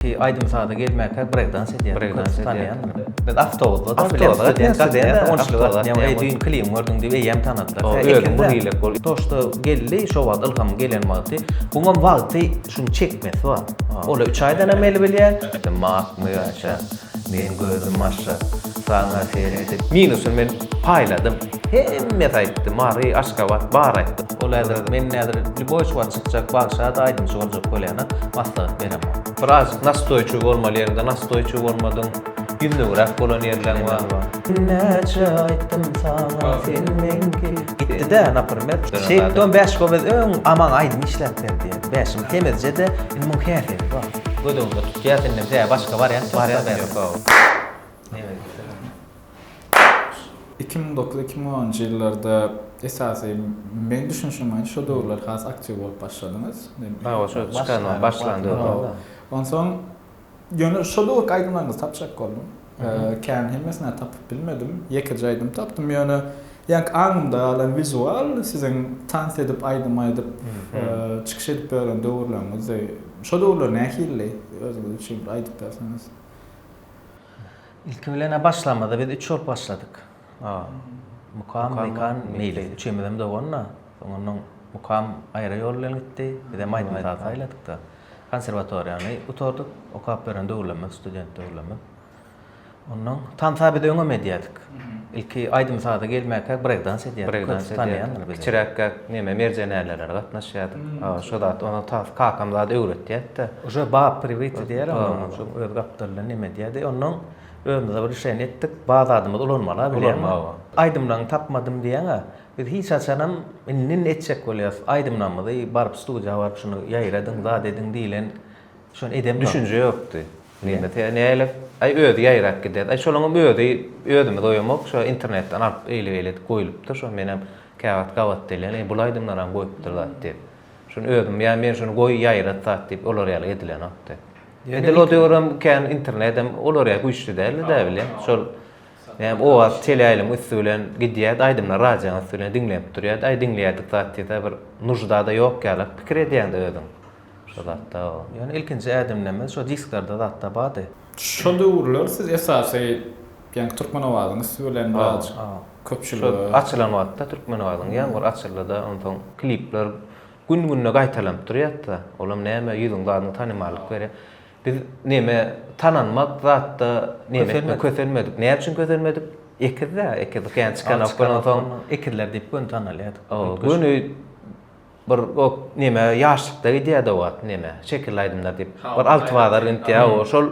Aýdym-saza gelmäkä breýkdans edýär. Breýkdans edýär. Biz awtobusda-da bilen Eý, düýn klibiňi gördüň diýip eýýäm tanadylar. Özüň bir ýyllyk bol. To, što geldi, şo wagt ylham gelen wagty. Buňam wagty şuny çekmesi bar. Ol-a üç aýdanam eli bilýär. Dymagmy aça, meň gözüm aşa, saňa seredip. Minusyn men paýladym. Hemmäsi aýtdy, Mary, Aşgabat, bar aýtdy. Ol häzir men näzir lýuboý şuwagt çykjak bagşada aýdymçy boljak bolýana maslahat beremok. Birazjyk nastoýçyl bolmaly ýeriňde nastoýçyl bolmadyň, ýüzlügiräk bolan ýerleriň bar. Näçe aýtdym saňa sen meňki. Gitdidä naprimer. Şeýtdi on bäş gowez öň Aman aýdym işläp berdi. Bäşim temizjede indi muň häsiýeti bar. Gödüňde tutýas indem hä başga barýas barýas. Iki müň dokuz-iki müň onunjy ýyllarda esasy meň düşünişim boýunça şo döwürler has aktiw bolup başladyňyz. Hawa, şo çykanyň başlan döwri. Onsoň ýöne şo döwürki aýdymlaryňyzy tapjak boldum. Kän hemmesini tapyp bilmedim. Ýekeje aýdym tapdym, ýöne ýaňky aňymda galan wizual siziň tans edip, aýdym aýdyp, çykyş edip ýören döwürleriňizdi. Şo döwürler nähilidi? Özüňiz üçin bir aýdyp berseňiz. Ilki bilen-ä başlamada biz üç bolup başladyk. Mukam, Mekan, Meýlis. Üçemizem dogan-da. Soňundan Mukam aýra ýol bilen gitdi. Bizem aýdym saz saýladyk-da. Konserwatoriýany gutardyk. Okap ýören döwürlerimiz, student döwürlerimiz. Ondan tansa biz öňem edýärdik. Ilki aýdym-saza gelmäkäk breýkdans edýärdik. Breýkdans edýärdik. Kiçiräkkäk neme merjenelere gatnaşýardyk. Şo zat onuň tas kakam zat öwretýärdi-de. Uje bap priwiti diýer onuň şol öz gapdalyndan neme edýärdi. Onnoň özümize bir işeni etdik. Baz adymyz ulanmala bileň. Aýdymlaňy tapmadym diýeň-ä. Biz hiç haçanam indi-indi etjek bolýas. Aýdymlaňyzy baryp studiýa baryp şuny ýaýradyň, zat ediň diýlen şony edemzok. Düşünje ýokdy. Nirede te nälet? Aý özi ýaýrap gider. Aý şolaňam özi özümiz oýamok, şo internetden alyp eýle-beýle edip goýlupdyr, şo menem käwagt gabat delän, eý bul aýdymlaram goýupdyr zat diýip. Şuny özüm ýa men şuny goý ýaýrat zat diýip olar ýaly edilenokdy. Edil o döwürem kän internedem olar ýaly güýçli däldi dä bilen. Şol näme owaz teleýaýlym üsti bilen gidýärdi, aýdymlar radioň üsti bilen diňlenip durýardy. Aý diňleýärdik zat diýse bir nujda-da ýok ýaly pikir edýäň-de özüň. Şu zatda ýöne ilkinji ädimlemez şo disklerde zatda bardy. Şo döwürler siz esasy ýaňky Türkmenowazyň üsti bilen biraz köpçülige. Şo açylan wagtda Türkmenowazyň ýaňky açyldyda onsoň klipler gün günde gaýtalanyp durýatda olam näme ýüzüň badyna tanymallyk berýä. Biz neme tananmak zatda neme kösenmedik. Näme üçin kösenmedik? Ekizda ekiz kän çykanok onsoň. Ekizler diýip göni tanalýardyk. Göni Bir o neme ýaşlykda gidýärdi o wagt neme şekilli aýdymlar diýip. Bir alty bazar gitýä o şol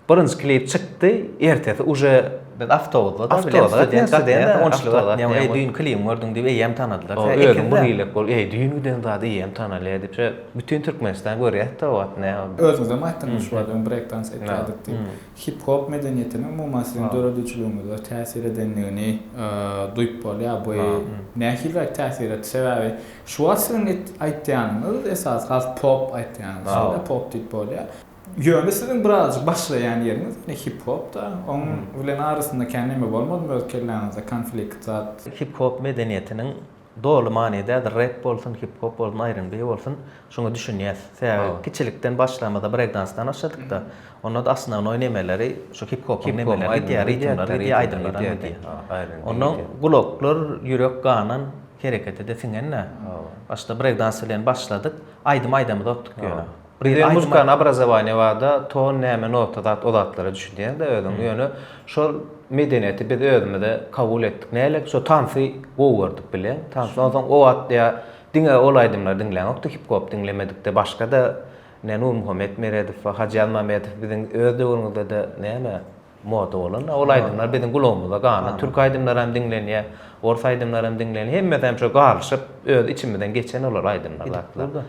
birinji klip çykdy ertesi uje biz awtobusda da bilen student gatnaýardy on üçlük gatnaýardy eý düýn klibiňi gördüň diýip eýýäm tanadylar sen ekiz bir ýyllyk bol eý düýn giden zat eýýäm tanalýar diýip şeýle bütin türkmenistan görýärdi o wagt nä özüňizem aýtdyňyz şu wagt öň breýk dans etýärdik diýip Hip-hop medeniýetiniň umuman siziň döredijiliginize täsir edendigini duýup bolýar. Bu nähiliräk täsir etdi? Sebäbi şu wagt siziň aýtýanyňyz esasy has pop aýtýanyňyz şeýle pop diýip bolýar. Ýöne siziň birazajyk başlaýan ýeriňiz ýene hip-hopda. Onuň bilen arasynda kän näme bolmadymy öz kelläňizde konflikt zat? Hip-hop medeniýetiniň Doly many däl rep bolsun hip hop bolsun aýryn bi bolsun şuňa düşünýäs sebäbi kiçilikden başlamyzda brek dansdan başladykda onda asnownoý nemeleri şu hip hopyň nemeleri gidýär ritmler gidýär aýdymlar hem gidýär onda gulaklar ýürek ganan herekete de siňen dä başda brek dans bilen başladyk aýdym aýdamyzokdyk ýöne Bize muzykany obrazowaniýa barda ton näme nota zat o zatlara düşünýäňdä özüň ýöne şol medeniýeti biz özümize kabul etdik nälik şo tansy gowy gördük bileň tansy onsoň o wagt ýa diňe ol aýdymlary diňläňokdy hip hop diňlemedikde başgada ne nurmuhammet meredow we hajy ýazmamedow biziň öz döwrüňizdede näme moda bolan ol aýdymlar biziň gulagymyza gana türk aýdymlaram diňlenýä ors aýdymlaram diňlenýä hemmesem şo galyşyp öz içimizden geçen olar aýdymlar zatlar.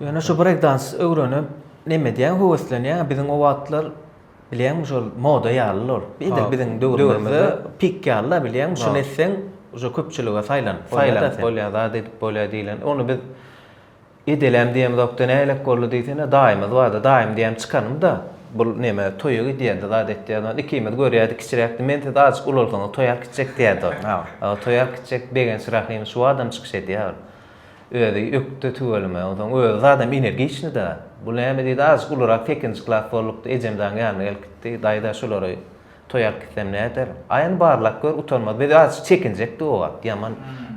Ýöne şu breakdans öwrenip neme edýäň höweslenýäň biziň o wagtlar bilýäňmi şol moda ýalydy ol edil biziň döwrümizde pik ýalyda bilýäňmi şuny etseň uje köpçülige saýlanyp saýlanyp bolýar zat edip bolýar diýlen ony biz edeläm diýemzokdy nälet boldy diýsene daýymyz bardy daýym diýýän çykanymda bul neme toýa gidýärdi zat etýärdi ony ikimiz görýärdik kiçiräkdi men siz azajyk ulalsaňyz toý alyp gitjek diýýärdi ol toý alyp gitjek begenç rahym şu adam çykyş edýär Özi ökde tüweleme. Onsoň özi zadam energiçni-dä. Bu näme diýdi, azjyk ulurak sekinji klas bolduk-da, ejemjaň ýanyna gelip gitdi. Daýza şulary toý alyp gitsem näder? Aý, ony barlap gör, utanmaz. Biz azjyk çekinjekdi o wagt, ýaman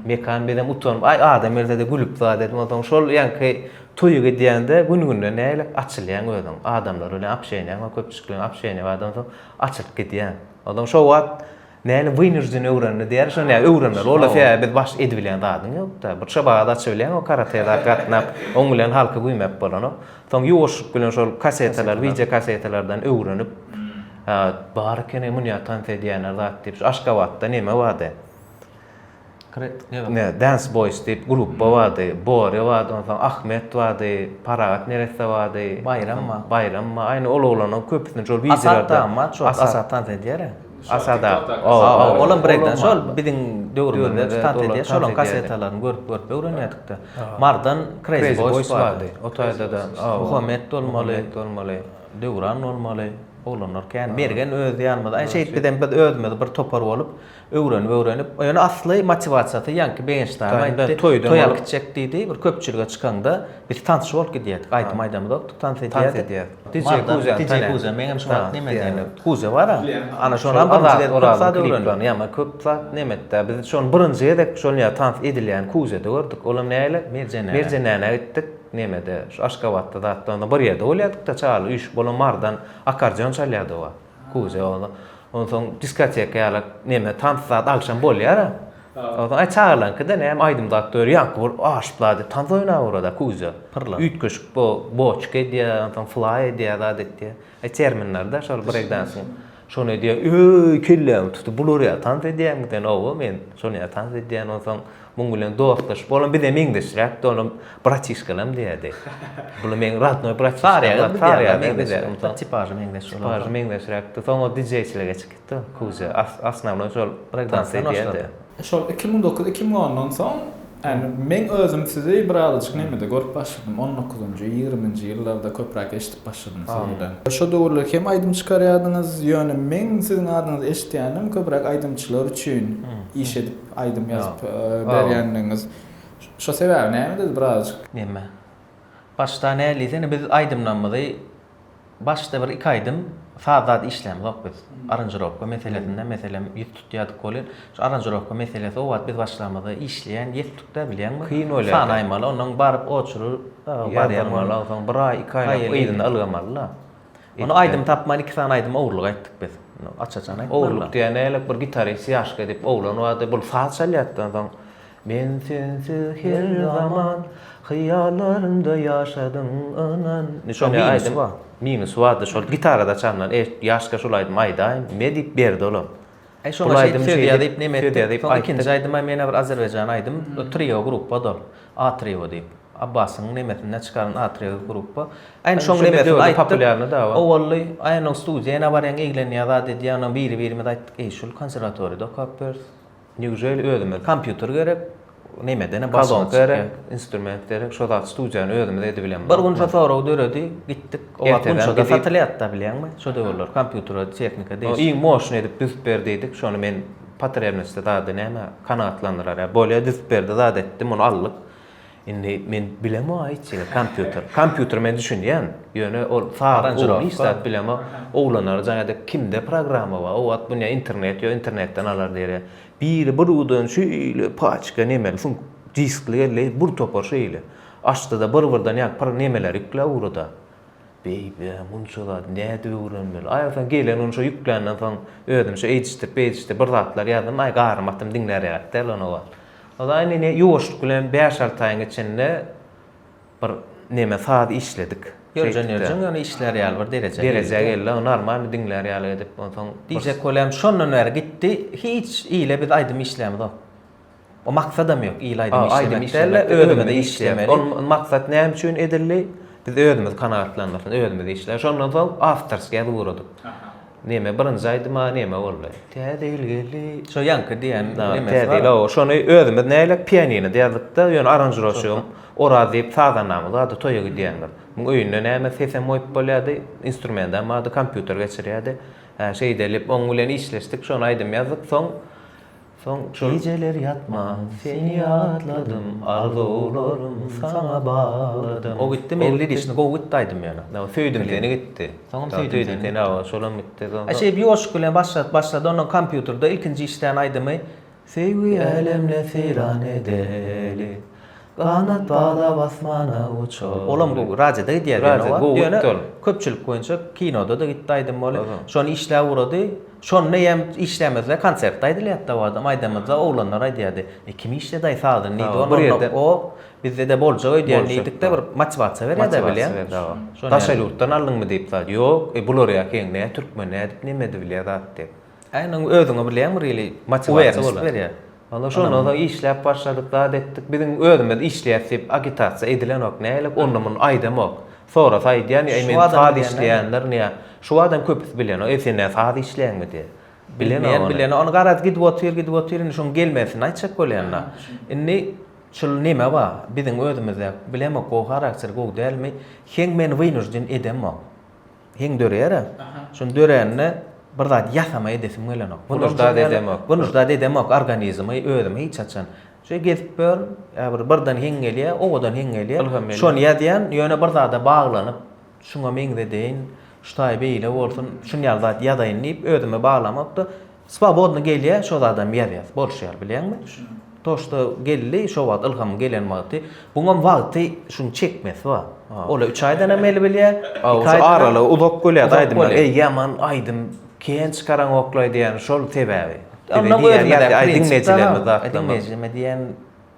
mekan, biz hem utanyp, aý, adam gelse-de gülüp zat edip, onsoň şol ýaňky toýa gidýäňde gün-günden nägilek açylýaň özüň. Adamlar bilen apşeýnäň, köpçülikleň apşeýni bardy, onsoň açylyp gidýäň. Onsoň şo wagt. Näne wynujden öwrendi diýýäris ony ýa öwrenmeli bolar sebäbi biz baş edibilýän zadyň ýokda. Bir çobada açybilýäň o karate zat gatnap oň bilen halky güýmäp bolanok. Soň ýuwaşlyk bilen şol kasetalar wideo kasetalardan öwrenip bar ekeni munýa tans edýänler zat diýip şu aşgabatda neme bardy. Dance Boys diýip grupba bardy. Borýa bardy, onsoň Ahmet bardy, Parahat neresse bardy. Baýram bar. Baýram bar. Aýna ol oglanlaryň köpüsini şol wideolarda. Asat tans edýär-ä. Asat aga. Hawa, olam breýkdans. Şol biziň döwrümizde tans edýär. Şolaryň kasetalaryny görüp-görüp öwrenýärdik-de. Mardan Crazy Boys bardy. O taýda-da Muhammet bolmaly, bolmaly, Döwran bolmaly. Oglanlar kän. Mergen öz ýanymyzda. Şeýtdi-de biz özümiz bir topar bolup, Öwrenip öwrenip ýöne asly motiwasiýasy ýaňky begenç dagam aýtdy toýa gitjek diýdi bir köpçülige çykanda biz tans bolup gidýärdik aýdym aýdamyzokdy tans edýärdik dije kuza dije kuza meňem şo wagt neme diýeni kuza bar ana şonam birinji ozal zat öwrendim ýa-ma köp zat nemetde biz şony birinji gezek şol ýerde tans edilýän kuzede gördük olam näle merjenä merjenäne gitdik nemede şu aşgabatda zatda onda bir ýerde bolýadykda çagalar üýşüp olam mardan akardeon çalýardy o wagt. Kuzya onda. Onsoň diskoteka ýaly neme tans zat agşam bolýar-a. Onsoň aý çagalarňky-da näme aýdym zat döri ýaňky bolup aşyplar diýip tans oýnap ora-da Kuzya. Pyrlap. Üýtgeşik bo boçka edýär, onsoň flaý edýär, zat etýär. Aý terminler-de şol breýkdansyň. Şony edýär, öý kellämi tutup bular ýaly tans edýärmikä? Owo men şony ýaly tans edýän onsoň Muň bilen dostlaşyp, olam bize meňzeşräk, olam bratişkalam diýerdi. Bular meň radnoý bratişkalar, Saryýagdaý bize, tipažy meňzeş, tipažy meňzeşräkdi. Soň ol dijeýçilige geçip gitdi, Kuzýa, asnawnoý şol brekdans edýärdi. Şol iki müň dokuz, iki müň ondan soň, ýagny meň özüm sizi birazajyk nemede görüp başladym, on dokuzynjy, ýigriminji ýyllarda köpräk eşidip başladym sizi bir-ä. Şo döwürler hem aýdym çykarýardyňyz, ýöne meň siziň adyňyzy eşidýänim köpräk aýdymçylar üçin iş edip, Aýdym ýazyp berýändigiňiz. Şo sebäbi näme diýdi birazajyk. Neme? Başda näl diýsene biz aýdymlarymyzy başda bir iki aýdym saz zat işlämzok biz. Aranžirowka meselesinde meselem ýüz tutýardyk welin şu aranžirowka meselesi o wagt biz başlamyzda işleýän ýetdikdä bilýäňmi? Kyn bolýardy. Sanaýmaly onnoň baryp oçuryp barýan. Ýazamaly onsoň bir aý iki aýlap yzyna ylgamalyda. Ony aýdym tapman iki sany aýdymy ogurlyk aýtdyk biz. Aç-açan aýtmaly. Ogurlyk diýen nälet bir gitarist ýaşky edip oglan bardy. Bul saz çalýardan soň Men sensiz her zaman hyýallarymda ýaşadym ynan. Şol aýdym minus bardy. Şol gitarada çalnan. Eý, ýaşka şul aýdymy aýdaýyn. Me diýip berdi olam. Şoňa şeýdip söz ýazyp neme etdik. Soň ikinji aýdymam ýene bir azerbaýjan aýdym. Trio gruppada ol. Atrio diýip. Abbasyň nemesinden çykaran Atrio grupba. Aýna şoň nemesini aýtdyk. Owally aýna studiýa ýene barýaň eglenýär zat edýär. Onam biri-birimize aýtdyk. Eý şul konserwatoriýada okap ýörüs. Neujeli özümiz kompýuter gerek. Nemeden balon gerek, instrument gerek, şo zat studiýany özümiz edibilenok. Bir gün şo sorag döredi, gitdik. O wagt Gunçada satylýardy-da bilýäňmi? Şo döwürler kompýuter, tehnika diýip, iň moşny edip düzüp ber diýdik. Şony men potremnosti zady näme kanagatlandyrar ýa. Bolýa düzüp berdi zat etdi, muny aldyk. Indi men bilemok-a hiç zat, kompýuter. Kompýuter men düşünýän, ýöne ol saz ugruny hiç zat bilemok. Oglanlara jaň edip, kimde programma bar? O wagt bu ne internet ýok, internetden alar diýer. Biri buruwdan şeýle paçka nemeli suňk diskli geldi, bir topar şeýle. Açdy-da, byr-byrdan ýaňky pyr nemeleri ýükläp ugrady. Beýbi, munça zady nädip öwrenmeli? Aý, soň gelen gün şo ýükländen soň özüm şo eýdişdirip-beýdişdirip bir zatlar ýazdym. Aý, garnym atym diňläräkdi-ä lan o wagt. Onsoň indi ýuwaşlyk bilen bäş-alty aýyň içinde, Bir neme saz işledik. Ýörjen ýörjen ýöne işlär ýaly bir derejä geldi. Derejä geldi aw normalny diňlär ýaly edip onsoň. Diýjek bolýam şondan bäri gitdi hiç ile biz aýdym işlämzok. O maksadam ýok ile aýdym işlemek däl-de özümize işlemeli. Ol maksat näme üçin edildi? Biz özümizi kanagatlandyrsyn özümiz işläli şondan soň awtorskeýa ugradyk. Neme birinji aýdyma neme boldy. Täze ýyl geldi. Şo ýaňky diýen nemesi bar. Täze ýyl şony özümiz näýlek pianinoda ýazypda ýöne aranžirovşigim Oraz diýip sazandamyz bardy toýa gidýändir. Muň öýünde näme sesem goýup bolýady instrumentam bardy kompýuter geçirýädi. Hä şeýdelip oň bilen işleşdik şony aýdym ýazdyk soň Soň gijeler ýatman seni ýatladym, arzuwlarym saňa bagladym. O gitdi Melli dişini gowy gitdi aýdym ýöne. Söýdüm seni gitdi. Soňam söýdüm seni gitdi. Şolam gitdi. Şeýdip ýoşup bilen başlap başlady ondan kompýuterde ilkinji işlän aýdymy Söýgi älemine seýran edeli. Ganat baglap asmana uçar. Olam gowy, radiýoda gidýär diýen o wagt, ýöne köpçülik boýunça kinoda-da gitdi aýdym boly, şony işläp ugrady, şonda eýýäm işlämezler, konsertde aýdylýardy o adam, aýdamyzda oglanlar aýdýardy, e kim işledi aý sazyny diýdi, onda ýerde o bizde-de boljak öýdýän diýdik-de bir matiwasiýa berýär-de bilýän, daşary ýurtdan aldyňmy diýip zat, ýok, e bular ýa heň nä türkmen nädip nemedi bilýär zat diýip. Aýna özüňi bilýäňmi really motiwasiýa bolar. Berýär. Onda şondan soň işläp başladyk zat etdik. Biziň özümiz işleýäs diýip agitasiýa edilenok. Nälik onda muny aýdamok. Sorasa aýdýan ýa men saz işleýändir niýe. Şu adam köpüsi bilenok. Eý sen näme saz işleýäňmi diýe. Bilenok. Bilenok. Ony garaz gidip otyr gidip otyr indi şoň gelmesini aýtjak bolýanda. Indi şul neme bar biziň özümizde bilemok gowy harakter gowy dälmi. Heň meni wynujden edemok. Heň döreýär-ä. Şuny dörände bir zat ýasama edesim gelenok. Bunujda-da edemok organizmi özümi hiç haçan. Şeý gezip ýörün, ýa bir birden heň gelýär, owadan heň gelýär. Şony ýazýan, ýöne bir zada baglanyp, şuňa meňzedeýin, şu taýy beýle bolsun, şuny ýaly zat ýazaýyn diýip özüme baglamok-da, Swobodny gelýä şo zadam ýazýas boluşýar bilýäňmi. To şto geldi şo wagt ylhamyň gelen wagty buňam wagty şuň çekmesi bar. Ola üç aýdanam eli bilýä. Iki aýdan. Aralygy uzak bolýa aýdymlar. Eý ýaman aýdym kän çykaraňoklaý diýýän şol sebäbi. Onda özümiz diňleýjilerimiz zatlaryň. Diňleýjime diýýän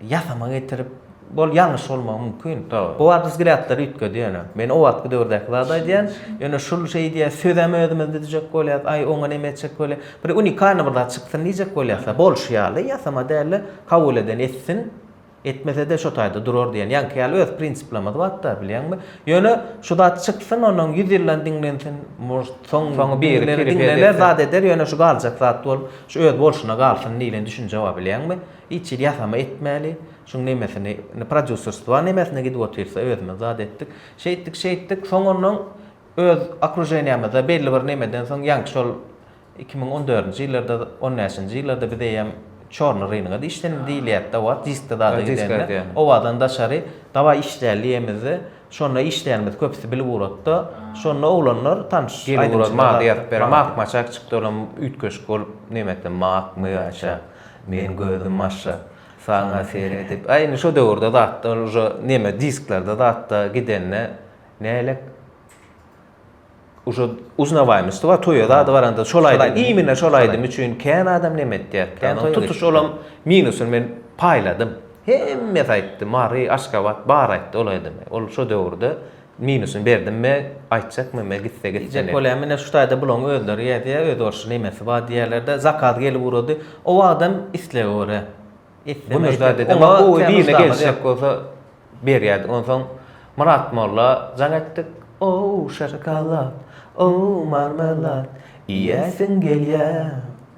Ýasama getirip, bol ýalňyş bolmagy mümkin. Bu wagt biz gräpleri üýtgedýär ýöne. Men o wagtky döwürdäki zady aýdýan. Ýöne şul şeý diýýär, sözem özümiz düzjek bolýas, aý oňa neme etjek bolýas. Bir unikalnyý bir zat çyksyn diýjek bolýas-a, bolşy ýaly, ýasama däl-de, kabul eden etsin, etmese-de şo taýda durar diýen. Ýaňky ýaly öz prinsiplerimiz bar-da, bilýäňmi? Ýöne şu zat çyksyn, ondan ýüz ýyldan diňlensin, может, soň birileri diňlener, zat eder, ýöne şu galjak zat bolup, şu öz bolşuna galsyn diýlen düşünje bar, bilýäňmi? Hiç hili ýasama etmäli. Şuň nemesini, indi prodýuserstwa nemesine gidip otyrsa, özümiz zat etdik. Şeýtdik, şeýtdik. Soň onnoň öz okruženiýamyzda belli bir nemeden soň ýaňky şol iki müň on dördünji ýyllarda, on bäşinji ýyllarda biz eýýäm çorny rynogada işlenim diýilýärdi-de wagt, diskde zada gidende. Obadan daşary dawaý işläli diýemizde, şonda işleýänimizi köpüsi bilip ugratda. Şonda oglanlar, tanyş aýdymçylar. Gelip ugrat, maňa-da ýazyp ber. Mak-maçak çykdy, olam üýtgeşik bolup, nemekä, makmy, aşa. Meň gözüm maşşa. Saňa seredip. Aý indi şo döwürde zatlar uje neme disklerde zatda gidende nälik uje uznawaýmyşdy wa toýa zady baranda şol aýdym imine şol aýdym üçin kän adam neme etýärdi kän toýa tutuş olam minusyny men paýladym hemmesi aýtdy mary aşgabat bar aýtdy ol aýdymy ol şo döwürde Minusyn berdim me aýtjakmy me gitse gitsin. Diýjek bolýan menä şu taýda bulaň özleri ýazýa öz orşy nemesi bar diýýärlerde zakaz gelip ugrady o wagtam islege görä isteme etmedi oňa gowy birine gelişjek bolsa berýärdik onsoň Myrat molla jaň etdik ow şokolad ow marmelad iýäsiň gelýä.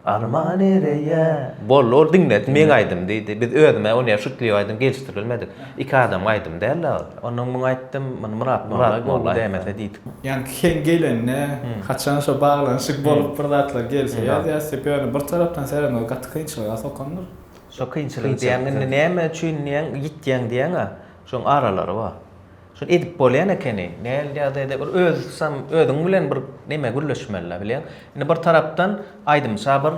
Alma nereýe? Boldy ol diňledi meň aýdym diýdi. Biz özüm-ä ony şutlyk aýdym gelişdirilmedik. Iki adamyň aýdymy däl-le ol. Ondan muňa aýtdym, muny Myrat Myrat gowy dämese diýdik. Ýa sen gelende haçan şo baglanyşyk bolup bir zatlar gelse ýazýas diýip ýöne bir tarapdan seredende gaty kynçylyga sokandyr. Şo kynçylygy diýýäň indi näme üçin diýýäň ýitýäň diýýäň-ä şoň aralary bar. Şuny edip bolýan ekeni. Näl ýagdaýda bir özüsam özüň bilen bir neme gürleşmelidä bilýäň. Indi bir tarapdan aýdymça bir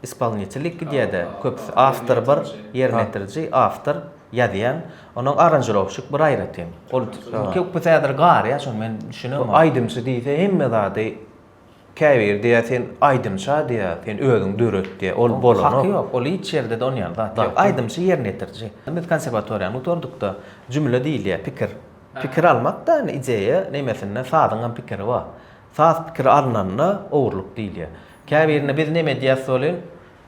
ispolnitellik gidýädä, köpüsi awtor bir, ýerine ýetiriji, awtor, ýazýan, ondan aranžirowşik bir aýratyn. Ol köpüsi häzir garýar şony men düşünemok. Bu aýdymçy diýse hemme zady Käbiri diýýär sen aýdymça diýýär, sen özüň döret diýýär, ol bolanok. Haky ýok, ol hiç ýerde de onýan zat ýok. Aýdymçy ýerine ýetiriji. Biz konserwatoriýany gutardykda jümle diýilýär, pikir. Pikir almak-da indi ideýa nemesinde sazyňam pikiri bar. Saz pikiri alnanda ogurlyk diýilýär. Käbirine biz neme edýäs welin,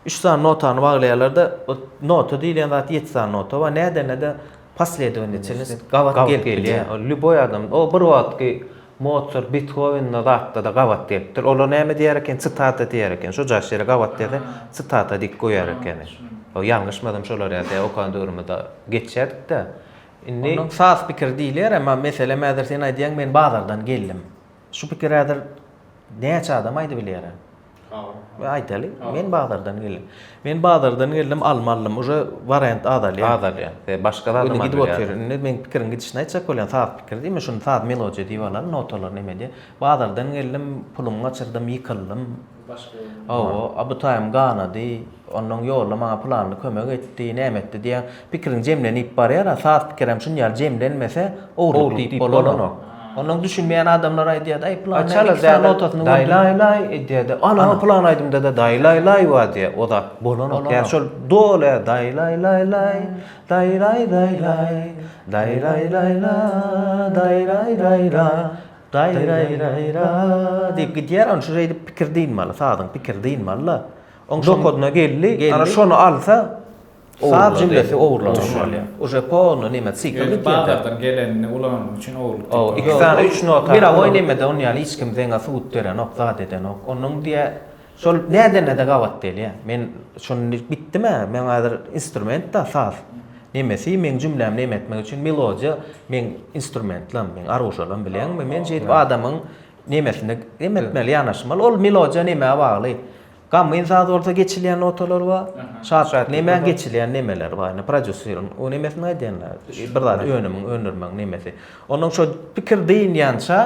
Üç sany notany baglaýarlar-da, o nota diýilýän zat ýedi sany nota bar. Nädende-de posledowniçelnost gabat gelip bilýär. Ol lýuboý adam, o bir wagtky Motsart, Bethowen-da zatda-da gabat gelipdir. Olar näme diýer eken, sitata diýer eken. Şu jaş ýere gabat gelse, sitata diýip goýar ekeni. O ýalňyşmasam şolar ýa-da okan döwrümizde geçýärdik-de. Indi. Onuň saz pikiri diýilýär, emma meselem häzir sen aýdýaň, men bazardan geldim. Şu pikiri häzir näçe adam aýdybilýär? Aýdaly, men bazardan geldim. Men bazardan geldim, alma aldym. Uje wariant azalýar. Azalýar. E, başga zat gidip otyr. Indi men pikiriň gidişini aýtjak bolýan, saz pikir diýme, şuny saz melodiýa diýip alan, notalar näme diýen. Bazardan geldim, pulumy gaçyrdym, ýykyldym. Başga. Hawa, a bu taýym ganady. Ondan ýolda maňa pylanly kömek etdi, näme etdi diýen. Pikiriň jemlenip barýar-a, saz pikirem şuny ýaly jemlenmese, ogurlyk diýip bolanok. Onnoň düşünmeýän adamlar aýdýar-da, aý, pylan näme iki sany notasyny gördüm. Daýlaýlaý edýär-de, ana, pylan aýdymda-da daýlaýlaý bar diýýär, o zat bolanok. Ýa şol doly daýlaýlaýlaý, daýraýraýraý, daýraýraýra, daýraýraýra, daýraýraýra diýip gidýär, ony şu şeýdip pikir dynmaly, sazyň pikiri dynmaly-da. Oň şoň. Dokadyna geldi, ana şony alsa. Saz jümlesi ogurlanyp. Uje polno nime sikl gitýän zat. Bazardan gelenini ulanmak üçin ogurlyk diýip bolmaz. Iki sany üç nota. Mirowoý nemede ony ýaly hiç kim zeňňä subut berenok, zat edenok. Onuň diýä şol nädenede gabat gelýä. Men şuny indi gitdimä, meň häzir instrument-da saz. Nemesi meň jümlämi neme etmek üçin melodiýa meň instrumentlam, meň aruşalam bileňmi? Men şeýdip adamyň nemesini neme etmeli, ýanaşmaly. Ol melodiýa nämä bagly? Gamgyn saz bolsa geçilýän notalar bar. Şatlyk nemäň geçilýän nemeler bar. Indi prodýuseriň o nemesini aýdanda bir zat önümiň öndürmegiň nemesi. Onuň şo pikir dynýança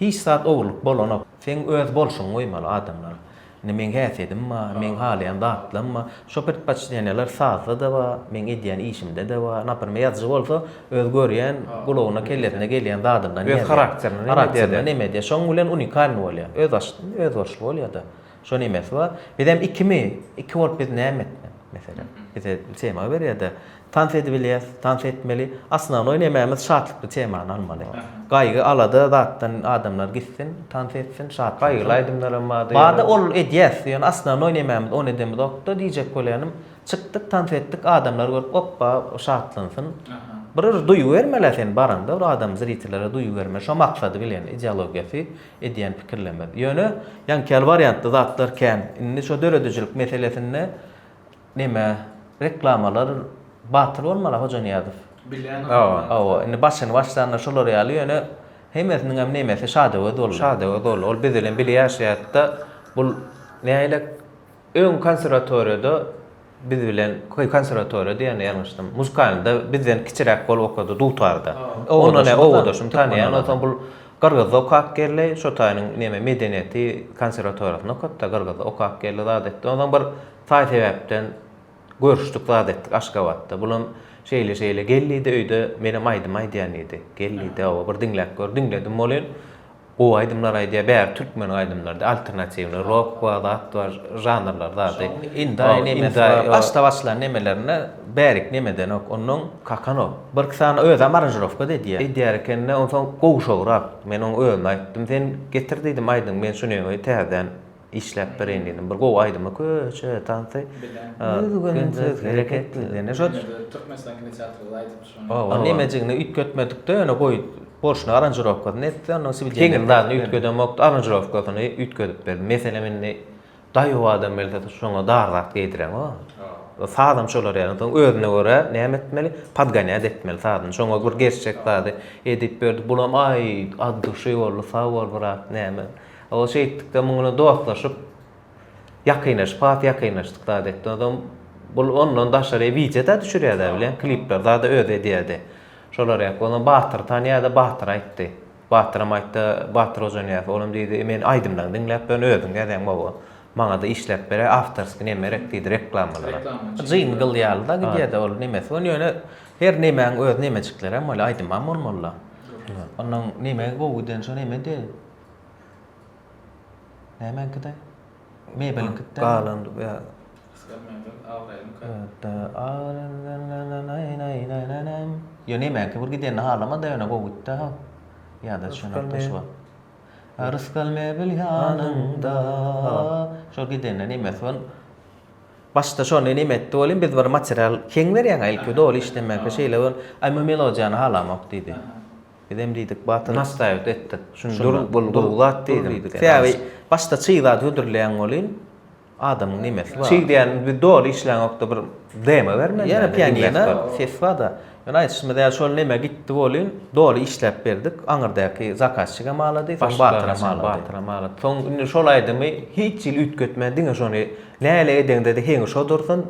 hiç zat ogurlyk bolanok. Seň öz bolşuňy goýmaly adamlar. Indi meň häsiýedim bar, meň halaýan zatlarym bar. Şo predpoçteniýalar sazda-da bar, meň edýän işimde-de bar. Naprimr, ýazyjy bolsa Öz görýän, gulagyna, kellesine gelýän zadyndan ýazýar. Öz harakterine, harakterine neme diýýär. Şoň bilen unikalnyý bolýar. Öz açyşly, öz görşli bolýar-da. Şo nemesi bar. Biz hem ikimi, iki bolup biz näme etmeli? Meselem, bize tema berýär-de, tans edip bilýäs, tans etmeli. Osnownoý nemämiz şatlykly temany almaly. Gaýgy, alada zatdan adamlar gitsin, tans etsin, şat bolsun. Gaýgyly aýdymlar hem bardy. Bardy, ol edýäs, ýöne osnownoý nemämiz, ony edemizok-da diýjek bolannym. Çykdyk tans etdik adamlar görüp oppa şatlansyn. Bir bir duýgy bermeli sen baranda bir adam zritelara duýgy bermeli şo maksady bilen ideologiýasy edýän pikirlemesi. Ýöne ýaňkyýaly wariantda zatlar kän. Indi şo döredijilik meselesinde neme reklamalar batyl bolmala Hojanyýazow. Bilýän adam. Hawa indi başyny başlanda şolar ýaly ýöne hemmesiniň hem nemesi Şadöwez boldy. Şadöwez boldy. Ol biz bilen bile ýaşaýatda bul nähili Öň konserwatoriýada biz bilen, köý konserwatoriýa diýende ýalňyşdym. Muzkalnyda bizden kiçiräk bolup okady dutarda. Ondan e, obadaşym tanýan. Onsoň bul Gyrgyzda okap geldi. Şo taýynyň neme medeniýeti konserwatoriýasynda okapda, Gyrgyzda okap geldi zat etdi. Onsoň bir taý sebäpden görüşdik zat etdik Aşgabatda. Bulam şeýle-şeýle gel diýdi öýde menem aýdym aýdýan diýdi. Gel diýdi, hawa bir diňläp gör. Diňledim bolyn. Gowy aýdymlar aýdýar bäri türkmen aýdymlardy alternatiwny rok bar zat bar žanrlar zady indaý nemesi bar başda başlan nemelerinde bärik nemedenok onnoň kakanok bir iki sany özem aranžirowkada edýär edýär ekende onsoň gowşagrak men oň özüme aýtdym sen getir diýdim aýdyň men şuny täzeden Işläp bereýin diýdim. Bir gowy aýdymy köçe tansy. Düzgünsiz hereket. Ýene şo Türkmenistan kino teatrynda aýdyp şonu. Oba nemejigini üýtgetmedikde ýöne goý borçny aranjirovkasyny etdi. Onda sibil ýene zadyny üýtgedemokdy. Aranjirovkasyny üýtgedip berdi. Meselem indi daýow adam gelse şoňa dar zat geýdiren o. Sazam şolar ýaly. Soň özüne görä näme etmeli? Podgonýat etmeli sazyny. Şoňa bir gerçek zady edip berdi. Bulam aý adduşy boldy. Sag bol brat näme. Ol şeýtdikde muň bilen dostlaşyp, ýakynlaşyp, has ýakynlaşdyk zat etdi. Onsoň bul ondan daşary wideo-da düşürýärdi-ä bilen, klipler zada özi edýärdi. Şolar ýaly. Onsoň Batyry tanýardy, Batyra aýtdy. Batyram aýtdy, Batyr hoja Nyýazow. Olam diýdi, Men aýdymlaryňy diňläp durun, özüň ýazýaň mawy. Maňa-da işläp beräý, awtorskiý neme gerek diýdi, reklamalara. Jingl ýaly-da gidýär-de ol nemesi bolan, ýöne her nemäň öz nemejiklerem bol, aýdymam bolmaly-da. Onnoň neme gowy giden, şo nemedi. Nämäňkide? Mebeliňkide. Galandy bu ýa. Ýa nämäňki bir gidenini halama-da ýöne gowy gitdi ha. Ýa-da şonda şu wagt. Rysgal mebel ýanyňda. Şo gidende nemesi bol. Başda şony neme etdi welin biz bir material heň berýäňä ilki doly işlemänkä şeýle bol. Aý bu melodiýany halamok diýdi. Bizem diýdik, batyr. Nastaýowat etdik. Şuny dur, gurguzat diýdik. Sebäbi başda çyg zat hödürleýäň welin, adamyň nemesi bar. Çyg diýýän, biz doly işläňokda bir demo bermeli. Ýene pianino ses bar-da. Ýöne aýdyşymyz ýaly şol neme gitdi welin, doly işläp berdik. Aňyrdäki zakazçik hem alady, soň batyr hem alady. Batyr hem alady. Soň indi şol aýdymy hiç hili üýtgetmän, diňe şony näle edeňde-de heňi şo dursun,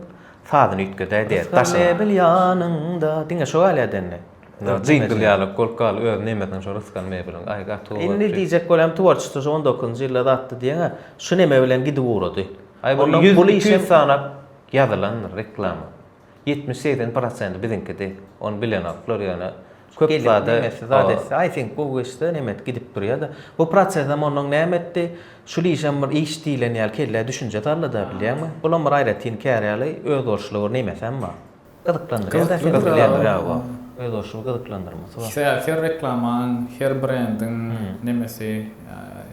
sazyny üýtgedäý diýýäs. Rysgal ebil ýanyňda. Diňe şo galýa-da indi. Jingle ýaly, golka ýaly öz nemesiniň şo rysgal mebeliň. Aý gaty gowy. Indi diýjek bolýan tworçestwo şo on dokuzynjy ýylda zatdy diýeňä şu neme bilen gidip ugrady. Aý bu ýüz iki ýüz sanap ýazylandyr reklama. Ýetmiş segsen prosenti biziňkidi. Ony bilenok bular ýöne köp zada nemesi zat etse aý seňki gowy geçse neme et gidip durýada. Bu prosesem onnoň näme etdi? Şul işem bir iş diýlen ýaly kellä düşünje saldyda bilýäňmi? Bulam bir aýratyn kär ýaly özboluşly bir nemesem bar. Her reklamanyň, her brendiň nemesi,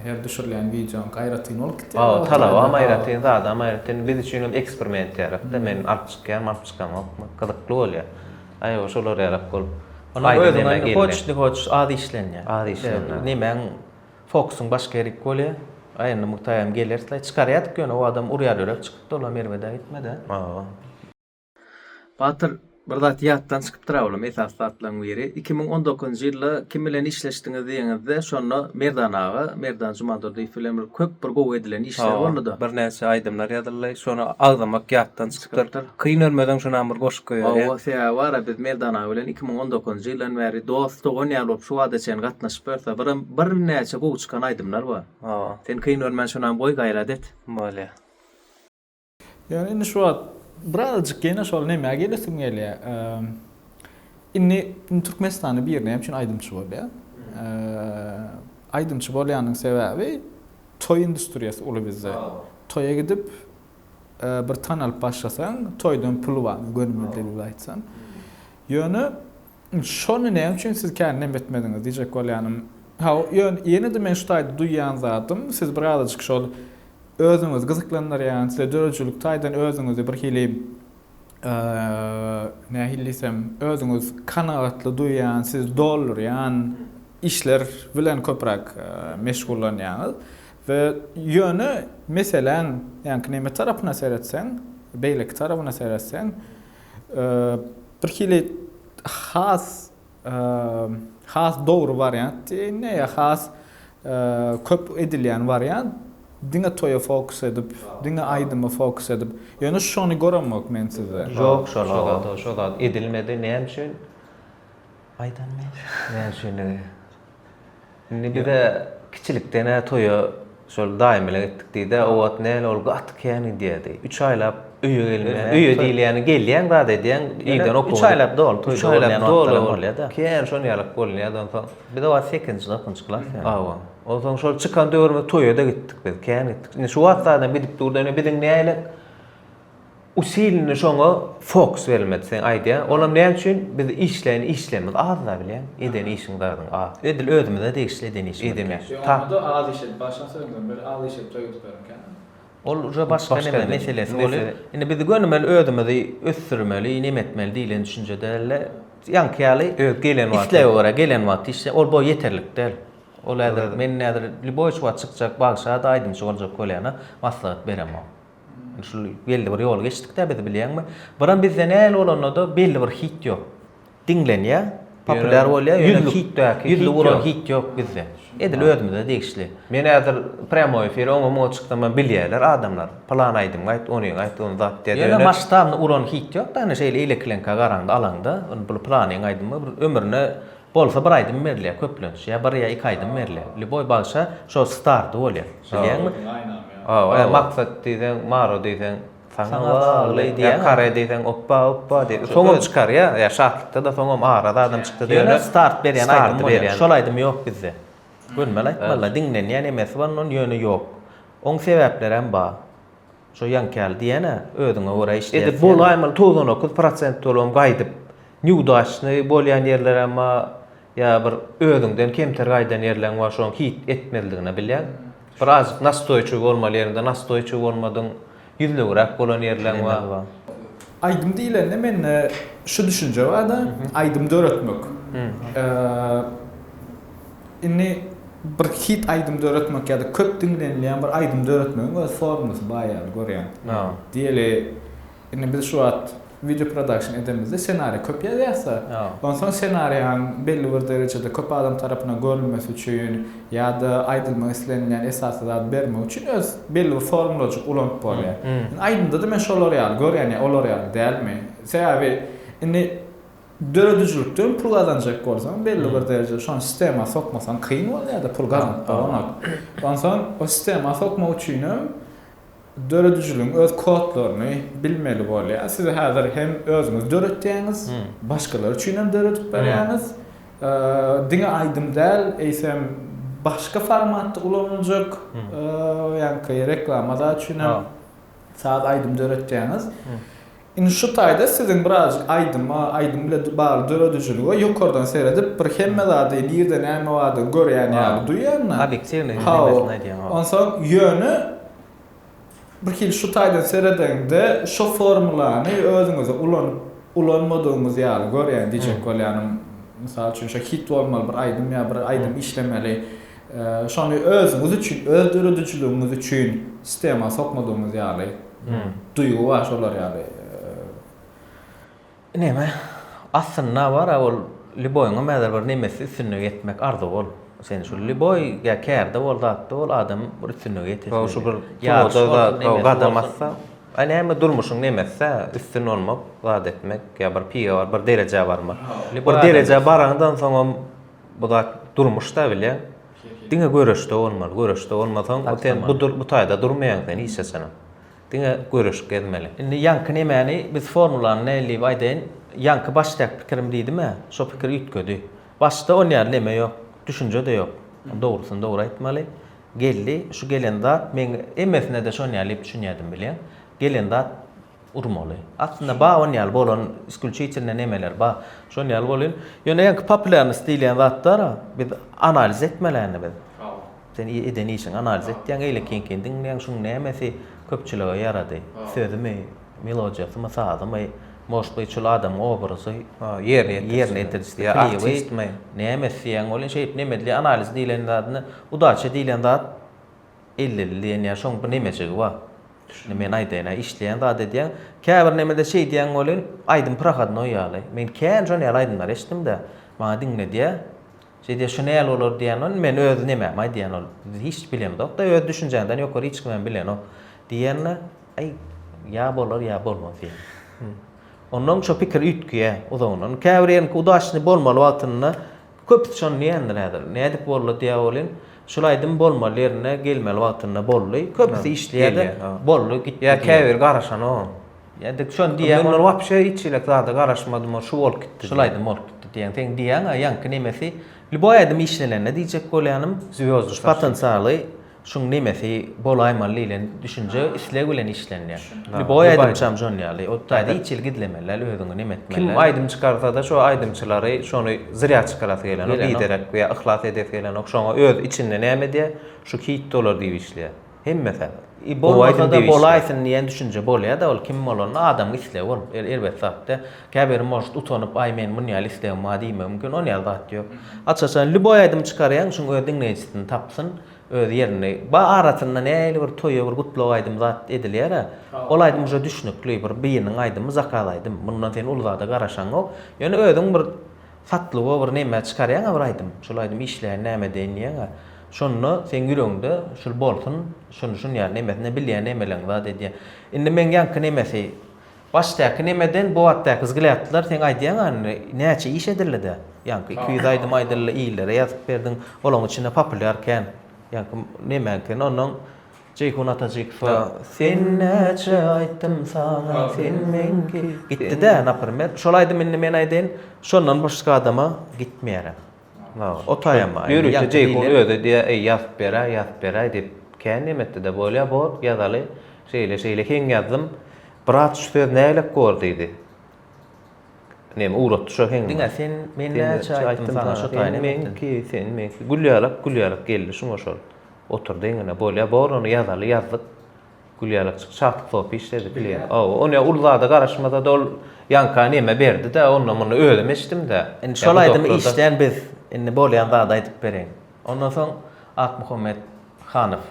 her düşürilýän wideonyňky aýratyn bolup gidýär. Talabam aýratyn, zadam aýratyn. Biz üçin hem eksperiment ýalyk-da. Men alyp çykýaryn, alyp çykaňokmy? Gyzykly bolýar. Aýwa şolar ýalyk bolup. Onuň özüňe indi hoç, ne hoç az işlenýär. Az işlenýär. Nemäň fokusyň başga ýerik bolýar. Aýna Muktaýam gelerslaý. Çykarýardyk ýöne o adam urýar ýörek çykypdy, olam erbede gitmedi. Batyr bir zat ýatdan çykypdyr awalam esasy zatlaň biri iki müň on dokuzynjy ýylda kim bilen işleşdiňiz diýeňizde şonda Merdan aga Merdan Jumandurdyýew bilen bir köp bir gowy edilen işler boldyda. Bir näçe aýdymlar ýazyldy şony agzamak ýatdan çykypdyr. Kyn ölmeseň şonam bir goşuk goýarýa. Hawa sebäbi bara biz Merdan aga bilen iki müň on dokuzynjy ýyldan bäri dost dogan ýaly bolup şu bada çen gatnaşyp ýörse bir bir näçe gowy çykan aýdymlar bar. Hawa. Sen kyn ölmän şonam goý gaýrat et. Bolýa. Ýöne indi şu wagt birazajyk ýene şol nämä gelesim gelýär. Indi Türkmenistanda biri näme üçin aýdymçy bolýar? Aýdymçy bolýanyň sebäbi toý industriýasy uly bizde. Toýa gidip bir tanalyp başlasaň, toýdan pul bar, gönümli dilde aýtsan. Ýöne Şony näme üçin siz kän nem etmediňiz diýjek bolýanym. Haw, ýöne ýene-de men şu taýda duýýan zadym, siz birazajyk şol özüňizi gyzyklandyrýan, size döredijilik taýdan özüňizi birhili, nähili diýsem, özüňiz kanagatly duýýan, sizi doldurýan işler bilen köpräk meşgullanýaňyz we ýöne meseläň, ýaňky neme tarapyna seretseň, beýleki tarabyna seretseň, Birhili has has dogry wariant ne ya has köp edilýän wariant diňe toýa fokus edip, diňe aýdyma fokus edip. Ýöne şony göremok men sizde. Ýok, şol zat, şol zat edilmedi. Näme üçin? Aýdam näme üçindigi. Indi bize kiçilikden-ä toýa şol daýymyla gitdik diýdi-ä. O wagt näl ol gaty kän gidýärdi. Üç aýlap öýe gelmän. Öýe diýilýäni gelýäň zat edýäň, irden okuwa. Üç aýlap doly toýda bolýan wagtlaram bolýa-da. Kän şon ýalyk bolunýardy onsoň. Biz o wagt sekizinji, dokuzynjy klas ýaly. Hawa. Onsoň şol çykan döwrümiz toýa-da gitdik biz, kän gitdik. Indi şu wagtlaram gidip durdy. Indi biziň nälet. Usilini şoňa fokus bermedi seň aýdýan olam näme üçin biz işleýin işlemiz azda bilýän eden işiň zaryn az edil özümize degişli eden işimiz edemýän şoňa da az iş edip başyna söňden beri az iş edip toý edip beren ekeniň ol uje başga neme meselesi bolýar indi biz gönümel özümizi ösdürmeli neme etmeli diýlen düşünje dälde ýaňky ýaly öz gelen wagty islege görä gelen wagty işle ol boý ýeterlik däl ol häzir men häzir lýuboý şu wagt çykjak bagşa da aýdymçy boljak bolýana maslahat beremok. Şul belli bir ýoly geçdikdä biz bilýäňmi? Biram bizde nähili bolanda-da belli bir hit ýok. Diňlenýä, populýar bolýa, ýöne hitdäki ýüzli uran hit ýok bizde. Edil özümize degişli. Men häzir prýamoý efire oňa-muňa çyksam-a bilýärler adamlar. Pylan aýdymgy aýt, ony aýt, ony zat diýýär. Ýöne masştabny uran hit ýok-da, ine şeýle eýlekileňkä garaňda, alaňda, ony bu pylanyň aýdymy bir ömrüne Bolsa bir aýdym berilýär köplenç ýa bir ýa iki aýdym berilýär lýuboý bagşa şo stardy bolýar bilýäňmi hawa e maksat diýseň maro diýseň saňa bagly diýýär kare diýseň oppa oppa diýip soňam çykarýa ýa şatlykda-da soňam araz adam çykdy diýýär ýöne start berýän aýdym bolýar şol aýdym ýok bizde gönmel aýtmalylar diňlenýän emesi bar onuň ýöne ýok oň sebäplerem bar. Şo ýaňkyýaly diýýän-ä, özüňe görä işleýär. Edip bolaýmaly, togsan dokuz prosent dolam gaýdyp, nýudaçnyý bolýan ýerlerem bar, ýa bir özüňden kemter gaýdan ýerleriň bar, şoň hit etmezligini bilýän. Bir azajyk nastoýçiw bolmaly ýeriňde nastoýçiw bolmadyň, ýüzlewiräk bolan ýerleriň bar. Aýdym diýlende mende şu düşünje bar-da, aýdym döretmek. Indi bir hit aýdym döretmek ýa-da köp diňlenilýän bir aýdym döretmegiň öz formulysy bar ýaly görýän. Diýeli, indi biz şu wagt wideo prodakşn edemizde ssenariý köp ýazýarsa, onsoň ssenariýaň belli bir derejede köp adam tarapyndan görülmesi üçin ýa-da aýdylmak islenilýän esasy zady bermek üçin öz belli bir formulajyk ulanyp bolýar. Indi aýdymda-da men şolar ýaly görýän, ýa olar ýaly dälmi? Sebäbi indi Döredijilikden pul gazanjak bolsaň belli bir derejede şony sistema sokmasaň kyn bolýada pul gazanyp bolanok. Onsoň o sistema sokmak üçinem döredijiligiň öz kodlaryny bilmeli bolýar. Siz häzir hem özüňiz döretýäňiz, başgalar üçinem döredip berýäňiz. Diňe aýdym däl, eýsem başga formatda ulanyljak ýaňky reklama zat üçinem saz aýdym döretýäňiz. Indi şu taýda siziň birazajyk aýdyma, aýdym bilen bagly döredijilige ýokardan seredip, bir hemme zady nirde näme bardygyny görýän ýaly duýýan da. Obýektiwnyý hemesini aýdýaň, hawa. Onsoň, ýöne birhili şu taýdan seredeňde şo formulany özüňize ulanyp, ulanmadygyňyz ýaly görýän diýjek bolýanym. Mysal üçin, şo hit bolmaly bir aýdym ýa bir aýdym işlemeli. Şony özüňiz üçin, öz döredijiligiňiz üçin sistema sokmadygyňyz ýaly duýgy bar şolar ýaly. Näme? Aslynda bar-a ol lýuboýyňam häzir bir nemesi üstünlige ýetmek arzuwy ol. Sen şu lýuboý ýa kärde bol, zatda bol adam bir üstünlige ýetesi. Gowy şu bir ýa-da gadam atsa, a näme durmuşyň nemesi-dä üstün bolmak, zat etmek ýa bir piga bar, bir derejä barmak. Bir derejä barandan soňam Bu zat durmuşda bile diňe göreşde bolmaly. Göreşde bolmasaň, sen bu bu taýda durmaýaň sen hiç haçanam. Diňe göreşip gezmeli. Indi ýaňky nemäni biz formulany nähili diýip aýdaýyn? Ýaňky başdaky pikirim diýdim-ä, şo pikir üýtgedi. Başda ony ýaly neme ýok, düşünje-de ýok. Dogrusyny dogry aýtmaly. Geldi, şu gelen zat, men hemmesine-de şony ýaly diýip düşünýärdim bilýän. Gelen zat urmaly. Aslynda bawon ýaly bolan iskulçitilne nemeler bar. Şol ýaly bolýan. Ýöne ýaňky populýarnost diýilýän zatlar biz analiz etmelänini biz. Sen eden işiň analiz etýäň, eýlekinkin diňleýäň, şuň nämesi köpçülige ýarady? Sözümi, melodiýasymy, sazymy, может быть, şol adamyň obrazy, ýerine ýetirijisi, artistmi, näme isleýäň? Bolýan şeýdip nemedli analiz diýlen zadyny, udaça diýlen zat Ellili diýen ýa şoň bir nemejigi bar. Şuny men aýdaýyn-a, işleýän zat edýän. Käbir nemede şeýdýän welin, aýdym prohodnoý ýaly. Men kän şon ýaly aýdymlar eşitdim-de, maňa diňledýär. Şeýdýär, şu näl bolar diýýän, men öz nemämi aýdýan ol. Biz hiç bilemzok-da, öz düşünjäňden ýokary hiç kimem bilenok. Diýende, aý, ýa bolar, ýa bolmaz diýýän. Onnoň şo pikir üýtgeýär uzagyndan. Käbir ýeriniňki udaçny bolmaly wagtynda. Köp syçan diýendir häzir. Nädip boldy diýä welin, şul aýdym bolmaly ýerine gelmeli wagtynda boldy. Köpüsi işleýärdi, boldy gitdi diýýär. Ýa käbiri garaşanogam. Ýa-da şony diýýär. Men wapşe hiç hili zada garaşmadym, şu bolup gitdi. Şul aýdym bolup gitdi diýýän. Seň diýýäň-ä ýaňky nemesi lýuboý aýdym işlenende diýjek bolýanym. Zwýozdny taşyp. Potensialy. şuň nemesi bolaýmaly diýlen düşünje, isleg bilen işlenýär. Indi boý aýdymçam şon ýaly, ot taýda hiç hili gizlemeler, özüňi neme etmeler. Kim aýdym çykarsa-da şo aýdymçylary şony zrýa çykarasy gelenok, biderek we yhlas edesi gelenok, şoňa öz içinde näme edýär, şu hit bolar diýip işleýär. Hemmesi. I bolmasa-da bolaýsyn diýen düşünje bolýar-da, ol kim bolanda adamyň islegi bolup, elbet zat-da. Käbiri может utanyp aý meniň munýaly islegim bar diýmegi mümkin, ony ýaly zat ýok. Açyk-açan lýuboý aýdymy çykarýaň şuň öz diňleýjisini tapsyn, öz ýerini. Ba arasynda nähili bir toýa bir gutlag aýdymy zat edilýärä, ol aýdym uje düşnükli, bir bynyň aýdymy, zakaz aýdym, mundan sen uly zada garaşaňok, ýöne özüň bir satlygo bir neme çykarýaňa bir aýdym, şol aýdym işleýän näme edeýin diýýäňä, şonda seň ýüregiňde şul bolsun, şuny şun ýaly nemesine bilýän nemeleriňi zat edýän. Indi meň ýaňky nemesi. Başdaky nemeden bu atdaky zgil atdylar seň aýdýaň indi näçe iş edildidä ýaňky iki ýüz aýdym aýdyldy illere ýazyp berdiň olaň içinde populýar kän ýaňky nemäňkini onnoň Jeýhun Atajykowa sen näçe aýtdym saňa sen meňki gitdidä naprimer şol aýdym indi men aýdaýyn şondan başga adama gitmeýärä. O taýamaý. Ýörite Jeýhun özi diýýär, Eý, ýazyp beräý, ýazyp beräý diýip, kän nemetdi-de, Bolýa, bor, ýazaly. Şeýle-şeýle heň ýazdym. Brat, şu söz nägilek bor diýdi. Neme ugratdy şo heň. Diňe sen, men näçe aýtdym saňa şo taýy nemetden. Sen meňki, sen meňki. Gülýärlak, gülýärlak geldi şuňa şol. Oturdy eňine. Bolýa, bor, ony ýazaly, ýazdyk. Gülýalak çyk çaklyk sopy işledi klient. Hawa, ony ýa ul zada garaşmasa-da ol ýaňka näme berdi-de, onda muny özüm içdim-de. Indi şol aýdymy işlän biz, indi bolýan zady aýdyp bereýin. Ondan soň Akmuhammet Hanow.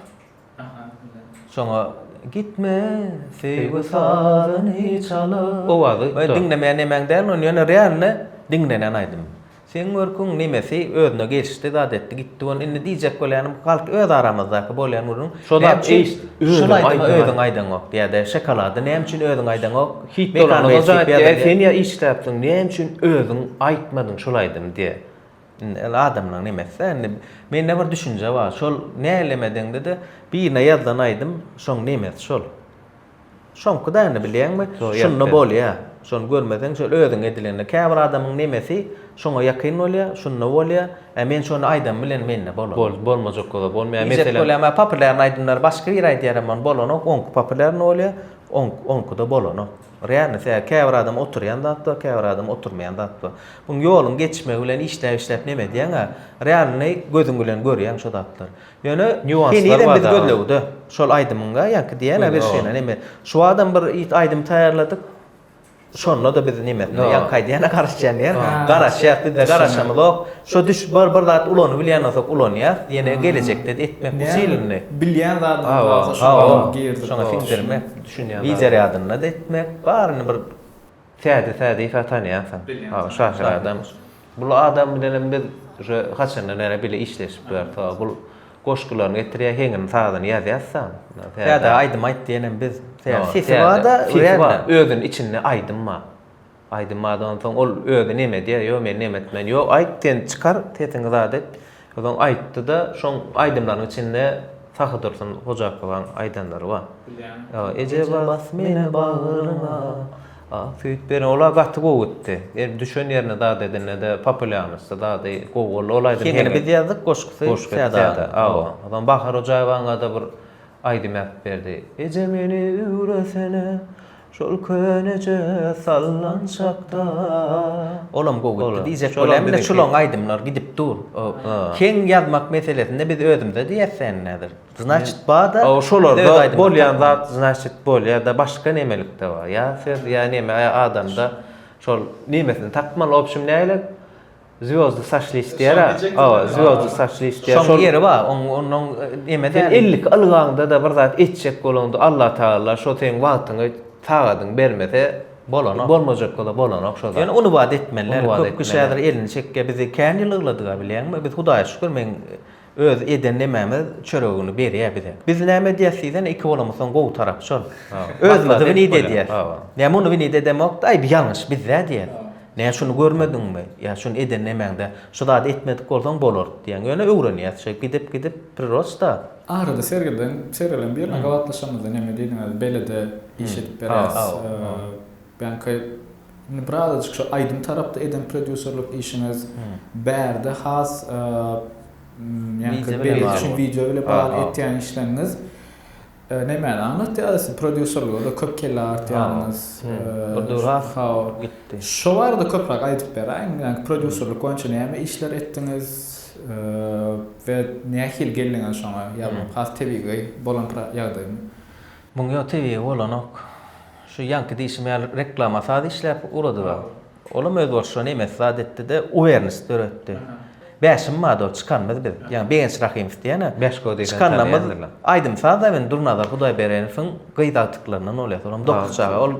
Şoňa Gitme, söýgi sazyny çalyp. Owazy. Diňlemeýän nemäň dälini, ony ýöne realny diňlenen aýdym. Seň görküň nemesi özüne gelişdi zat etdi gitdi gon indi diýjek bolýanym galt öz aramyzdaky bolýan gürrüň Şo zat näme üçin eýst özüň şul aýdymy aýdaňa. özüň aýdaňok ýa-da şokolady näme üçin özüň aýdaňok Hit Mekan bolanda Bey jaýat çekýär diýä diýä. sen ýa işläpsiň näme üçin özüň aýtmadyň şul aýdymy diýä indi ol adamlaň nemeside indi mende bir düşünje bar şol nälemedeňde-de birine ýazan aýdym şoň nemesi şol. Şoňky däni bilýäňmi? Şunda bolýa. Şony görmeseň şol özüň edilende. Käbir adamyň nemesi şoňa ýakyn bolýa, şunda bolýa. Ä men şony aýdam bilen mende bolan. Bol, bolmajak zada bolmaýa. Meselem. Diýjek bolýam ä populýarny aýdymlary başga biri aýdýar emman bolanok. Oňky populýarny bolýa, oňk, oňkyda bolanok. Realnysi ä käbir adam oturýan zat bar, käbir adam oturmaýan zat bar. Buň ýoluň geçmegi bilen işläp-işläp neme edýäň ä. Realnyny gözüň bilen görýäň şo zatlary. Ýöne nýuanslar bar gözlegde. Şol aýdymyňa ýaňky diýýän bir şeýle neme. Şu wagtam bir aýdym taýýarladyk. Şonda-da biz nemesine ýaňky aýdýana garaşýan ýer. Garaşýas, bizde garaşanymyzok. Şo düş bir bir zat ulanyp bilýän bolsak ulanýas. Ýene gelejekde etmek bu silini. Bilýän zadymyz barsa şoňa girdik. Şoňa siňdirmek. Düşünýän. Wideo ýadynda etmek. Baryny bir. Täze täze Isa tanýansyň. Bilýän şahyr adam. Bul adam bilenem biz uje haçandan bäri bile işleşip ýörüs. Ho bul goşgularyny getirýär heňini sazyny ýazýasda. Täze aýdym aýt diýenem biz. Täze sesi barda özüni içinde aýdym bar. Aýdym barda onsoň ol özi neme diýýär ýok men neme etmen ýok aýt sen çykar sesiňi zat et. Soň aýtdy-da, şoň aýdymlaryň içinde Sahydursun Hojakowaň aýdanlary bar. Eje bas meni bagryňa, ak süýt ber. Olar gaty gowy gitdi. Ýeri düşen ýerine zat edende-de populýarnosty zady gowy boldy. Ol aýdym Heňini biz ýazdyk, goşgusy Säda. Hawa. Soň Bahar Hojaýewaňa-da bir aýdym ýazyp berdi. Eje meni üwresene, Şol köneje salnan çakda Olam gowy gitdi diýjek bolýan bir çulaň aýdymlar gidip dur Keň ýazmak meselesinde biz özümüze diýersen häzir znaçit bada şolarda bolýan zat znaçit bolýada başga nemelikde bar ýa söz ýa neme ýa adamda şol nemesini tapmaly obşim näle Zwýozdy saçly işleýär-ä. Hawa, zwýozdy saçly işleýär. Şoň ýeri bar, oň onuň eme däl. Sen ellik ylgaňda-da bir zat etjek bolaňda Allatagala şo seň wagtyňy, sagadyňy bermese, bolanok. Bolmajakda-da bolanok şo zat. Ýöne uny bad etmeliler. Köp kişi häzir elini çekýär. Bizi kän ýyl ýygladyga bilýäňmi? Biz Hudaýa şükür, men Özi eden nemämiz çöregini berýä bize. Biz näme edýäs diýsene iki bolamyzsoň gowy tarap şol. Özümizi wynit edýäs. Näme ony wynit edemokda aý bu ýalňyş bizde diýýäs. Näme şuny görmediňmi? Ýa şuny eden nemäňde şu zady etmedik bolsaň bolardy diýýäň. Ýöne öwrenýäs şeýdip gidip gidip prirosta. Arada sergiden sergiden birine gabatlaşamyzda näme diýdiňiz belede iş edip berýäs. Bäňki Indi birazajyk şu aýdym tarapda eden prodýuserlik işiňiz, bärde has ýaňky belet üçin wideo bile bagly etýän işleriňiz nämäni aňlatýar? Siz prodýuserlige-de köp kelle artýaňyz. Şo barada köpräk aýdyp beräýiň. Ýaňky prodýuserlik boýunça näme işler etdiňiz we nähili geldiňiz şoňa? Ýa has tebigy bolan ýagdaýmy? Muň ýo tebigy bolanok. Şu ýaňky diýşim ýaly reklama saz işläp uladyga. Olam öz bolşuna nemes zat etdide uwernis döretdi. Bäşim bady ol çykanymyz biz. Ýagny Begenç Rahymow diýen-ä. Beşko diýip hem tanýandylar. Aýdym saz hem indi Durnazar Hudaýbereňowyň gyz agtyklaryndan bolýa solam dokuz çaga ol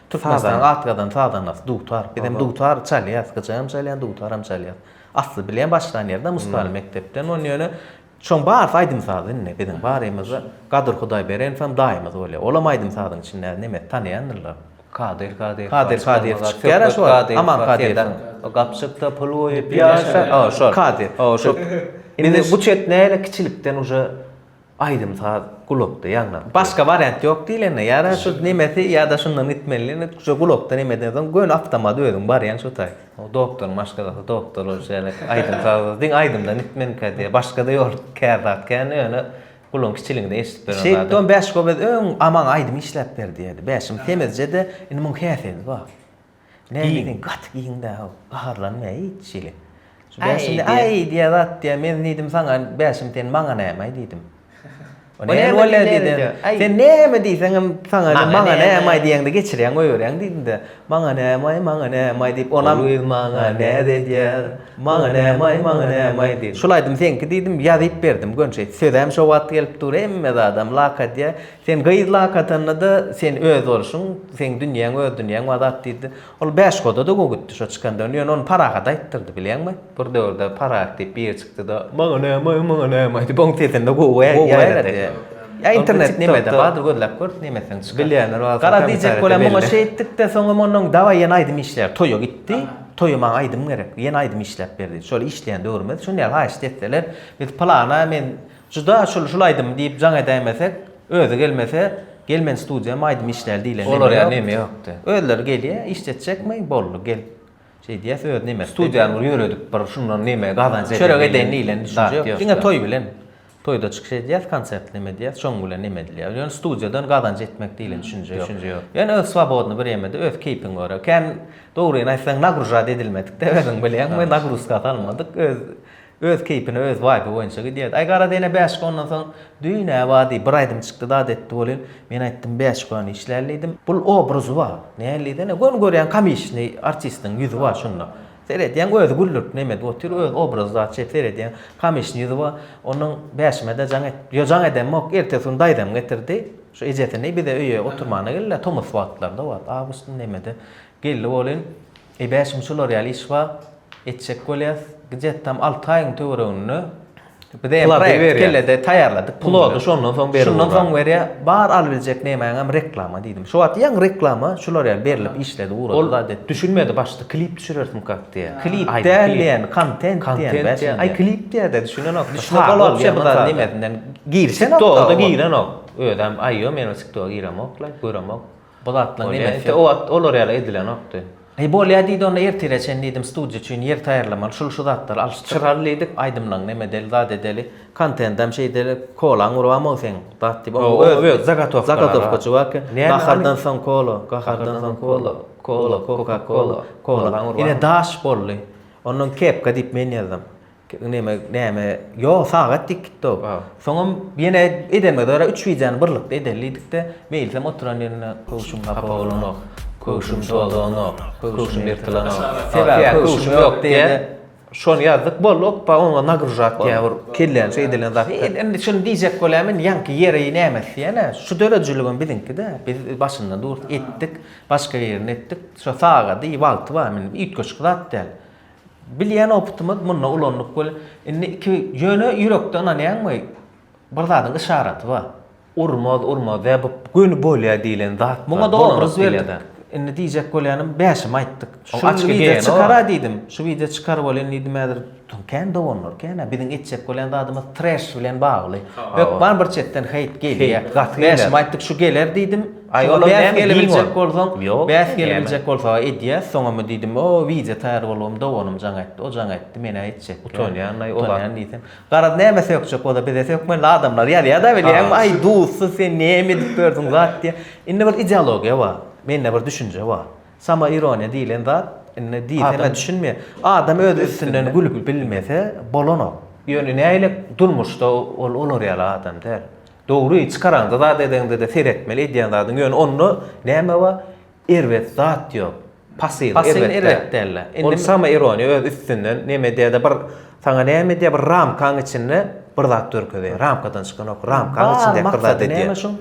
Türkmenistanyň atgadan sazandasy dutar. Biz hem dutar çalýas gyja hem çalýan dutar hem çalýas. Asly bilen başlan ýerde Mustaly mekdepden ony ýöne Şoň barysy aýdym-saz indi biziň barymyzda Gadyr Hudaýberenov hem daýymyz bolýar. Olam aýdym-sazyň içindäki nemesi tanaýandyrlar. Kadyr Kadyýew. Kadyr Kadyýew çykýar-a şo wagt. Aman Kadyýewiň. O gapjykda pul goýup ýaşa. O şol. Kadyr. O şo. Indi bu çet näle kiçilikden uje aýdym-saz gulakda ýaňlanyp. Başga wariant ýok diýlende ýa-da şu nemesi ýa-da şundan gitmeli diýlende uje gulakda nemeden soň göni awtomat özüň barýaň şo taý. O doktoryň maşgalasy doktor ol şeýle aýdym saz diň aýdymda nitmenkä diýe başgada ýol kär zat kän ýöne guluň kiçiligiňde eşidip beren zady. Şeýtdon bäş gobez öň Aman aýdym işläp ber diýerdi bäşim semizjede indi muň häsiýeti bar näme diň gaty giň dä how gaharlanmaýa hiç hili şu bäşim aý diýe zat diýe men diýdim saňa bäşim sen maňa näme aý diýdim O näme bolýar diýdi. Sen näme diýseňem saňa ne, maňa näme diýende geçirýäň goýberýäň diýdi-de. Maňa näme, maňa näme diýip, onam. Ol öz maňa näz edýär. Maňa näme, maňa näme diýdi. Şul aýdym seňki diýdim, ýazyp berdim. Gönşeýt, sözem şo wagt gelip dur, hemme zadam lak edýär. Sen gyz lak atanda-da sen öz bolşuň, seň dünýäň öz dünýäň, Azat diýdi. Ol bäş goda-da gowy gitdi şo çykandan, ýöne ony Parahat aýtdyrdy, bilýäňmi? Bir döwürde Parahat diýip biri çykdy-da, Maňa näme-aý, maňa näme-aý diýip, onuň sesini-de gowy ýaýrady. Ýa internet nemede bardyr, gözläp gör, nemesem çykar. Bilýänler bar bolsa kommentariýada belli. Gara diýjek bolan, muňa şeý etdik-de, soňam ondan dawaý ýene aýdym işleýär. Toýa gitdi, toýa maňa aýdym gerek, ýene aýdym işläp ber diýdi. Şol işleýän döwrümizdi. Şuny ýaly haýyşt etseler, biz plana men Juda şul şul aýdym diýip jaň edäýmesek, özi gelmese, gel men studiýam aýdym işläli diýlen neme ýok. Olar ýa neme ýokdy. Özleri gelýä, işletjekmi, boldy gel. Şeý diýäs öz nemesi. Studiýany bir ýöredip bir şundan neme gazanç edeli. Çörek edeýin diýlen düşünje ýok. Diňe toý bilen. Toýda çykyş edýäs, konsert neme diýýäs, şoň bilen neme edilýär. Ýöne studiýadan gazanç etmek diýlen düşünje ýok. Düşünje ýok. Ýöne öz swobodny bir ýemede öz keýpiň görä. Kän dogryny aýtsaň nagružat edilmedik-de özüň bilýäňmi, nagruzka salmadyk. Öz Öz keýpine öz vibe boýunça gidýärdi. Aý garaz ene bäşik ondan soň düýn-ä bady bir aýdym çykdy dat etdi welin men aýtdym bäşikwany işläli diýdim. Bul obrazy bar. Näl diýsene göni görýän komiçni artistiň ýüzi bar şunda. Seredýäň özi güldürip neme edip otyr öz obrazy zat şeýt seredýäň komiçni ýüzi bar. Onuň bäşime-de jaň et ýo jaň edemok ertesi gün daýzam getirdi. Şu ejesini bize öýe oturmana geldiler tomus wagtlarda wagt awgustyň nemede geldi welin Ebäşim şular ýaly iş bar, etjek bolýas. Gjet tam alty aýyň töwereginde biz eýe proýekt kellede taýýarladyk. Pulady şondan soň berýär. Şondan soň berýär. Bar al biljek nemäňem reklama diýdim. Şu wagt ýaňy reklama şular ýaly berilip işledi ugrady. Ol zat düşünmedi başda klip düşürersimkak diýýär. Klip däl diýýän, kontent diýýän bäşim. Aý klip diýýärde düşünenok. Düşünip bolap şo zat nimesinden girişenok. Tiktoka giremok. Özem aýýo men o tiktoka giremok-la, göremok. Bu zatlaň Bolýa entä o wagt olar ýaly edilenokdy. Eý bolýa diýdi onda ertire çen diýdim studiýa üçin ýer taýýarlamaly şul şu zatlary alyşdyryp çyraly diýdik aýdymlaň neme edeli zat edeli kontentam şey edeli kolaň urubam ow seň zat diýip oň öz öz zagatowka zagatowka çybar eken nahardan soň kola gahardan soň kola kola koka kola kola ine daş boldy ondan kepka diýip men ýazdym. Neme neme yo sagat dik gitdo. Soňam ýene edeme dara üç wideony birlikde edeli dikde meýilsem oturan ýerinde köwşüm hapa bolanok. Köwşüm dolanok. Köwşüm ýyrtylanok. Sebäbi köwşüm ýok diýende şony ýazdyk boldy okba oňa nagruzat ýa bir kelläni şeý edilen zat. Indi şuny diýjek bolýan men ýaňky ýeri nämesi ýene şu döredijiligem biziňkide biz başynda durduk etdik başga ýerini etdik şo sagady wagty bar men üýtgeşik zat däl. Bilýän opytymyz munda ulandyk weli indi iki ýöne ýürekde ynanýaňmy bir zadyň yşaraty bar. Urmaz urmaz ýa bu göni bolýa diýlen zat bar. Muňa-da obraz berdik. Indi diýjek bolýanym bäşimi aýtdyk. Şu açgy geýen çykara diýdim. Şu wideo çykar welin diýdim häzir kän dowanlar kän-ä biziň etjek bolýan zadymyz treş bilen bagly. Hökman bir çetden heýt gelýä. Bäşimi aýtdyk şu geler diýdim. Aý olar näme gelebiljek bolsaň, bäs gelebiljek bolsa edýäs, soňamy diýdim, o wideo taýýar bolubam doganym jaň etdi, o jaň etdi, men-ä etjek. Utanýan-aý o zat diýsem. Garaz näme sökjek bolsa bize sökmeli adamlar ýazýa-da bilýäňmi, aý duzsyz sen näme edip berdiň zat diýýä. Indi bir ideologiýa bar, mende bir düşünje bar. Samoironiýa diýlen zat indi diýsem-ä düşünmeýär. Adam öz üstünden gülüp bilmese bolanok. Ýöne nägile durmuşda ol olar ýaly adam däl. Dogry, çykaraňda zat edeňdede seretmeli edýän zadyň ýöne onda näme bar? Erbet zat ýok. Pasyl, Pasyl erbet däl-de. Ol samoironiýa öz üstünden neme edýär-de bir saňa näme edýär bir ramkaň içinde bir zat görkezýär. Ramkadan çykanok, ramkaň içindäki bir zat edýär. Maksady näme şuň?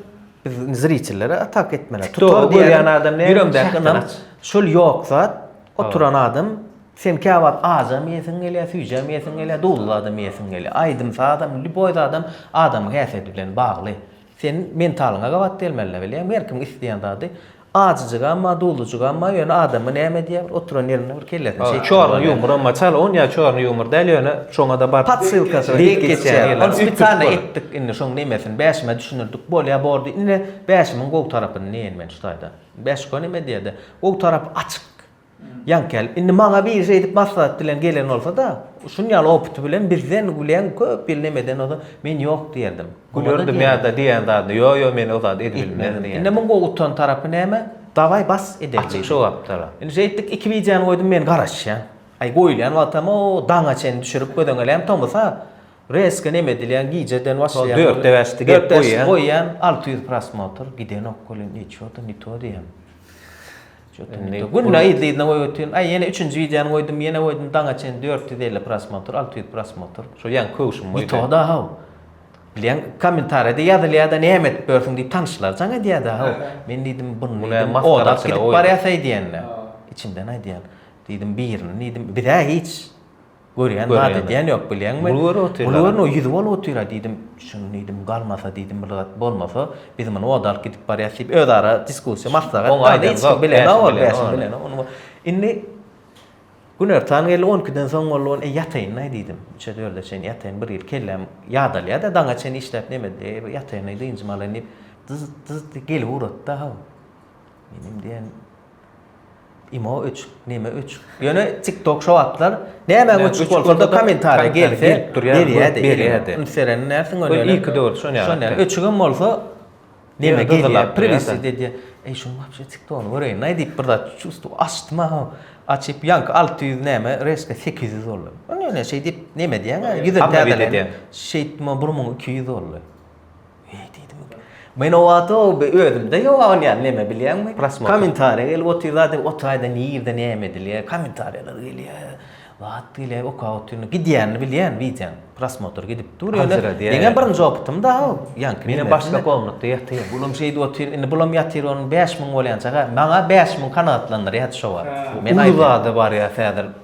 Biz zriçillere atak etmeli. Tutar diýýän adam näme? Ýüreňdäki ynam. Şol ýok zat, oturan adam Sen käwagt ajam iýesiň gelýär, süýjem iýesiň gelýär, duzly zadam iýesiň gelýär. Aýdym-sazam, lýuboý zadam adamyň häsiýeti bilen bagly. Seniň mentalyňa gabat gelmeli-le, bilýäňmi? Her kim isleýän zady ajyjygam bar, duzlyjygam bar, ýöne adamyň näme edýär, bir oturan ýerinde bir kellesine şeýtdi. Çorny ýumuram bar. Çal on ýa çorny ýumur däl, ýöne şoňa-da bar. Podsilkasy bar, diýip geçýär. Ony spesialno etdik indi şoň nemesini, bäşime düşündirdik. Bolýa bordy. Ine, bäşimiň gowy tarapyny diýeýin men şu taýda. Bäşiko neme diýer-de? Gowy tarapy açyk. Ýaňkel, indi maňa biri şeýdip maslahat bilen gelen bolsa-da, şuny ýaly opyty bilen bizden gülýän köp ýyl nemeden ozal, men ýok diýerdim. Gülerdim ýa-da diýen zadyny, ýo-ýo men o zady edibilmez diýerdim. Indi muň gowy utan tarapy näme? Dawaý bas edeli diýdim. Açyk jogapdyr. Indi şeýtdik, iki wideony goýdum, men garaşýan. Aý goýulýan wagtam o daňa çenli düşürip gözeňelän tomusa reska neme edilýän gijeden başlaýan. Şol dörtde bäşde gep goýýan. Goýýan alty ýüz prosmotr gidenok welin ne ço-da ne to diýýän. Indi günde yzly-yzyna goýup otyryn. Aý, ýene üçünji wideony goýdum, ýene goýdum, daňa çenli dört ýüz elli prosmotr, alty ýüz prosmotr. Şol ýaňky köwşüm bolýar. Ýutuga-da haw. Bilýän, kommentariýada ýazylýar-da, näme edip ýörsüň diýip tanyşlar jaň edýär-de, haw. Men diýdim, buny diýdim, odap gidip barýarsyý diýende, içimden aýdýan. Diýdim, birini diýdim, biz-ä hiç. Görýän zat edýän ýok, bilýäňmi? Bul görüp otyr. Bul görüp o ýüzi bolup otyr-a diýdim. Şuny diýdim, galmasa diýdim, bir zat bolmasa, biz muny oda alyp gidip barýas diýip, özara diskussiýa, maslahat. Oň aýdan zat bilenok. Indi günortan geldi, on ikiden soň boldy, ony ýataýyn-aý diýdim. Üçe, dörde çenli ýataýyn, bir ýyl kelläm ýadalýa-da, daňa çenli işläp näme edip, ýataýyn-aý, dynjymy alaýyn diýip, dyzt-dyzt gelip ugrady-da, haw. Menem diýen Imo öçük, neme öçük. Ýöne TikTok şu wagtlar näme öçük bolsa da kommentariýa gelse, berýärdi. Berýärdi. Indi seren näsiň öne? Öne iki dört şonýa. Şonýa. Öçügem bolsa neme gelýär? Privisi diýdi. Eý şu wagtça TikTok-ny göreýin. Näme diýip bir zat çustu açdym ha. Açyp ýanky 600 näme, reşke 800 boldy. Ýöne şeýdip neme diýýäň? Ýüzün täzeleýin. Şeýtdim o 1200 boldy. Men o wagt özümde ýok agyn ýaly neme bilýäňmi? Kommentariýa gelip otyr zady, o taýda nirde näme edilýär, kommentariýalar gelýär. Zat gelýär, okap otyryn. Gidýänini bilýän wideoň. Prosmotr gidip dur ýöne. Meň birinji opytym da o. Ýaňky men başga komnatda ýatyr. Bulam şeýdip otyr, indi bulam ýatyr onuň bäş müň bolýançaga. Maňa bäş müň kanagatlandyrýardy şo wagt. Uly zada barýas häzir.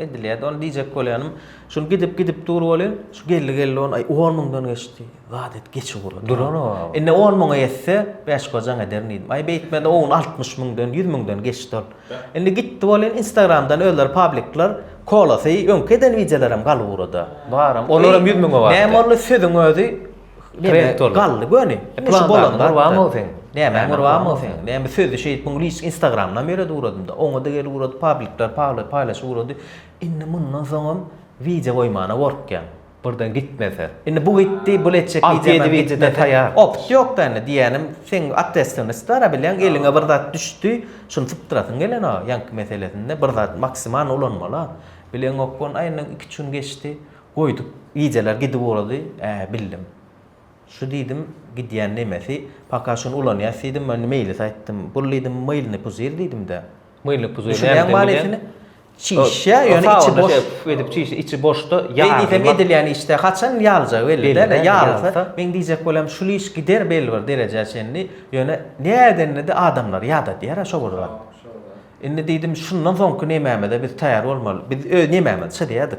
Edilýärdi. Ony diýjek bolýanym, şul gidip gidip dur welin, şu geldi geldi on, aý on müňden geçdi. Zat et geç ugurlar. Duran o. Indi on müňe etse, bäş gojaň ederin diýdim. Aý beýtmedi on altmyş müňden, ýüz müňden geçdi ol. Indi gitdi welin instagramdan özleri publikler kolasy, öňki eden wideolaram galyp ugrada. Baram, olaram ýüz müňe bardy. Näme boldy sözüň özi? Rektor. Galdy göni. Plan bolan gurban ol sen. Näme gurban ol sen. Näme sözü şeýdip muňa hiç Instagramdan beri uradymda. Oňa da gel urady, publikler pagly paýlaşy urady. Indi mundan soňam wideo goýmana gorkýan. Birden gitmese. Indi bu gitdi, bu etjek wideo wideo taýýar. Opt ýok da indi diýýänim, sen atwestwnis dara bilen eliňe bir zat düşdi, şuny sypdyrasyň gelen o ýanky meselesinde bir zat maksimal ulanmala. Bileňok gon aýna iki-üç gün geçdi. Goýduk. Gijeler gidip ugrady. Ä, bildim. Şu diýdim, gidýän nemesi, paka şuny ulanýas diýdim, indi meýlis aýtdym. Bul diýdim, mylny puzir diýdim-dä. Mylny puzir näme ekeni? Düşünýäňmi manysyny? Çişýä, ýöne içi boş. Sawunda şeýdip edip çişýär, içi boşda ýaly. Beý diýsem edilýän işde haçan ýaljagy belli-dä, ine ýalsa, meň diýjek bolam şul iş gider belli bir derejä çenli, ýöne nädenini-de adamlar ýadadýar-a şo bir zat. Indi diýdim, şundan soňky nemämize biz taýar bolmaly. Biz öz nemämizi çyzýardyk.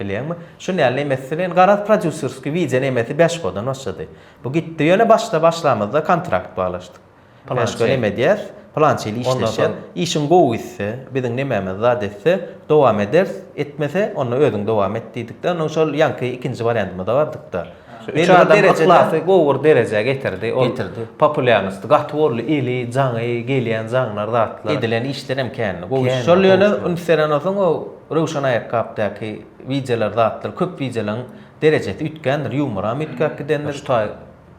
Bilýäňmi? Şu näl nemesdi welin garaz prodýuserskiý wideo nemesi Bäşkodan başlady. Bu gitdi ýöne başda başlamyzda kontrakt baglaşdyk. Bäşko neme diýer? Pylança ýyl işleşer. Işiň gowy gitse, biziň nememiz zat etse, dowam ederis, etmese, onda özüň dowam et diýdik-de, ondan şol ýaňky ikinji wariantymyza bardyk-da. Şu üç adam yhlasy gowy bir derejä getirdi. Ol populýarnosty gaty boldy, eli, jaňy, gelýän jaňlar, zatlar. Edilen işlerem kändi, gowy işler. Şol ýöne üns beren bolsaň o Röwşen aýakgapdaky wideolar zatlar köp wideolaň derejesi üýtgändir ýumoram üýtgäp gidendir şu taý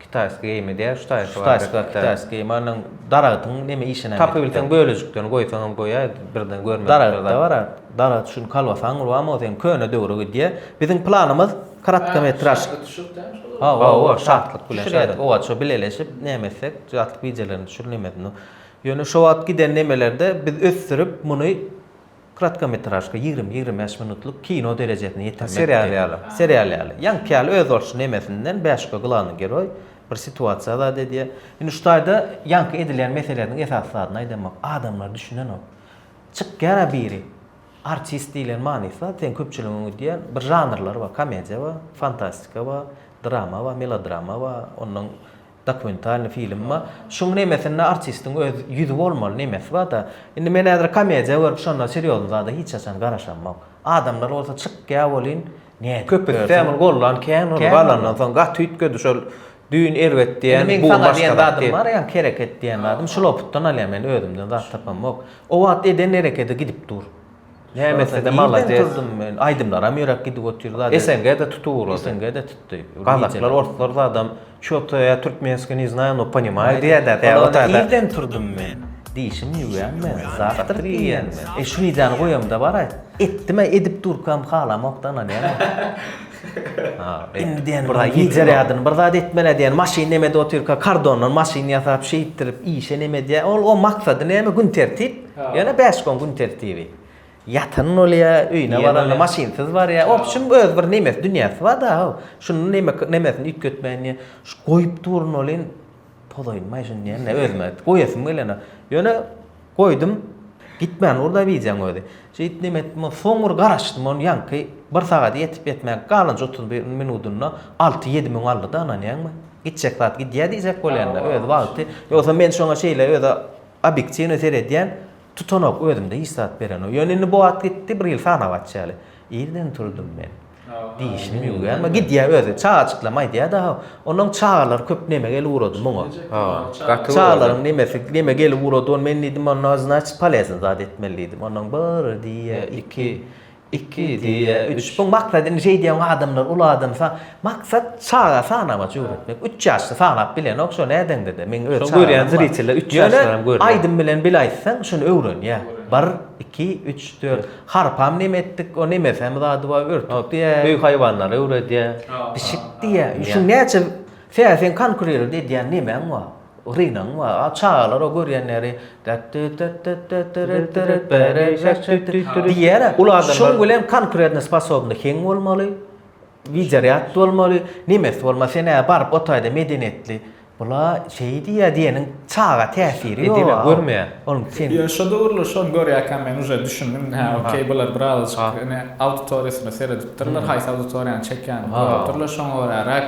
kitaýski geýim edýär şu taýsy şu taýsy bar kitaýski geýim bar onuň daragytyň neme işinem tapybilseň bölejiklerini goýsaňam goýaý birden görmedik daragytda bar a daragyt şuny kolbasaňy urup alma bolsa indi köne döwre gidýär biziň planymyz kratkometraž hawa hawa şatlyk bilen düşürýädik owaç o bileleşip näme etsek şatlyk wideolaryny düşür nemesini ýöne şo wagt giden nemelerde biz ösdürip muny Kratkometražka, ýigrimi, ýigrimi bäş minutlyk kino derejesine ýetirmekdi. Serial ýaly. Serial ýaly. Ýaňky ýaly özboluşly nemesinden bäşka glanny geroý bir situasiýa zat edýär. Indi şu taýda ýaňky edilýän meseleleriň esasy zadyny aýdamok. Adamlar düşünenok. Çykýar-a biri. Artist diýlen manysy zat seň köpçüligiň öňi diýen bir žanrlar bar. Komediýa bar, fantastika bar, drama bar, melodrama bar, onnoň Dokumentalny filmma şuň nemesinde artistiň öz ýüzi bolmaly nemesi barda indi men häzir komediýa görüp şonda serýozny zada hiç haçan garaşamok adamlar bolsa çykýa bolyn nädip köpütde muny gollan kän boldy galandan soň gaty üýtgedi şol düýn erbet diýen bu gün başga zat diýen bar ýaňky hereket diýen zadym şul opytdan alýan men özümden zat tapamok o wagt eden herekedi gidip dur. Nämesede malades. Aýdymlaram ýöräp gidip otyr zat. SNG-de tutup ugrady. SNG-de tutdy. Gazaklar, orslar zadam ço-to ýa türkmenski ne znaýa no ponimaýa diýädä tä o tada. Irden turdum men. Dişimi ýuwýan men. Zakatryk iýýän men. E şu widýany goýamda baraý. Etdim-ä edip durkam halamok tanalýan men. Ha. Indi diýen bir zat ýeter ýadyn bir zat etmeli diýen maşyn nemede otyrka kardondan maşyn ýasap şeýtdirip işe neme diýä ol o maksady neme gün tertip. Ýöne bäş gün gün tertibi. Ýatan bolýa, öýüne baranda maşynsyz barýa. Obşim öz bir nemes dünýäsi barda how. Şuny neme nemesini üýtgetmäýin diýen. Şu goýup durun welin pozaýynmaý şuny diýen özüme. Goýasym gelene. Ýöne goýdum. Gitmän dur-da wideoň özi. Şeýdip neme etdim ol soň bir garaşdym ony ýaňky bir sagat ýetip ýetmän galanja otuz bir minudynda alty ýedi müň aldy-da ynanýaňmy? Gitjek zat gidýä diýjek bolýanda öz wagty. Ýogsa men şoňa şeýle özi Obýektiwny seredýän, tutanok, özümde hiç zat berenok. Ýöne indi bu wagt gitdi, bir ýyl sanap açýaly. Irden turdum men. Dişimi ýuwýarma, gidýä özi. Çagajyklam aýdýa-da-haw. Onuň çagalar köp neme gelip ugrady muňa. Ha, gaty. Çagalaryň nemesi, neme gelip ugrady, ony men diýdim, onda, znaçit, poleznyý zat etmeli diýdim. Ondan bir diýýä, iki. Iki, diýýä, üç. Bu maksadyny şeýdýän adamlar uly adamsa, maksat çaga sanamaç öwretmek. Üç ýaşly sanap bilenok, şo nädeňde-de, meň öz çagam bar. Şony görýän zriteller üç ýaşlaram görýär. Ýöne aýdym bilen bil aýtsaň, şuny öwrenýä. Bir, iki, üç, dört. Harpam neme etdik, o nemesem zady bar, örtük diýýä. Öý haýwanlary öwredýä. Pişik diýýä. Şu näçe, tä seň konkurirent edýän nemäň bar? Rynagyň bar. A çagalar o görýänleri diýýärä. Şuň bilen konkretno sposobny heň bolmaly, widerýad bolmaly, nemes bolmaly, sen ä baryp otaýda medeniýetli. Bula şeý diýýä diýeniň çaga täsiri ýok. Edil-ä görmeýär. Onuň sen. Ýo şo döwürler şony görýärkäm men uje düşündim, hä okey bular birazajyk ine auditoriýasyna seredipdirler, haýsy auditoriýany çekýänini görüpdirler, şoňa göräräk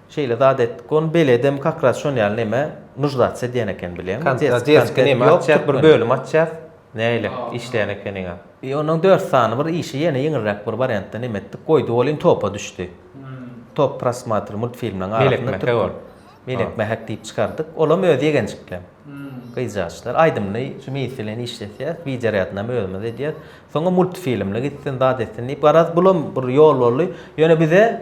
Şeýle zat etdik. Ony beledem kakras şon ýaly neme nuždac edýän eken bilýäňmi? Kontra deski neme Ýok, açýas bir muny? bölüm açýas. Nähili işleýän ekeniňä. I onuň dört sany bir işi ýene ýeňilräk bir wariantda neme etdik. Goýdy ol in topa düşdi. Top prosmotr multfilmleriň Melek arasynda mähek türkmen. ol. Melek mähek diýip çykardyk. Olam öz ýegenjiklem. Gyzjagçlar. Aýdymly şu meýis bilen işleseýäs. Wideorýadnama özümiz edýäs. Soňam multfilmli gitsin, zat etsin diýip. Garaz bulam bir ýol boldy. Ýöne bize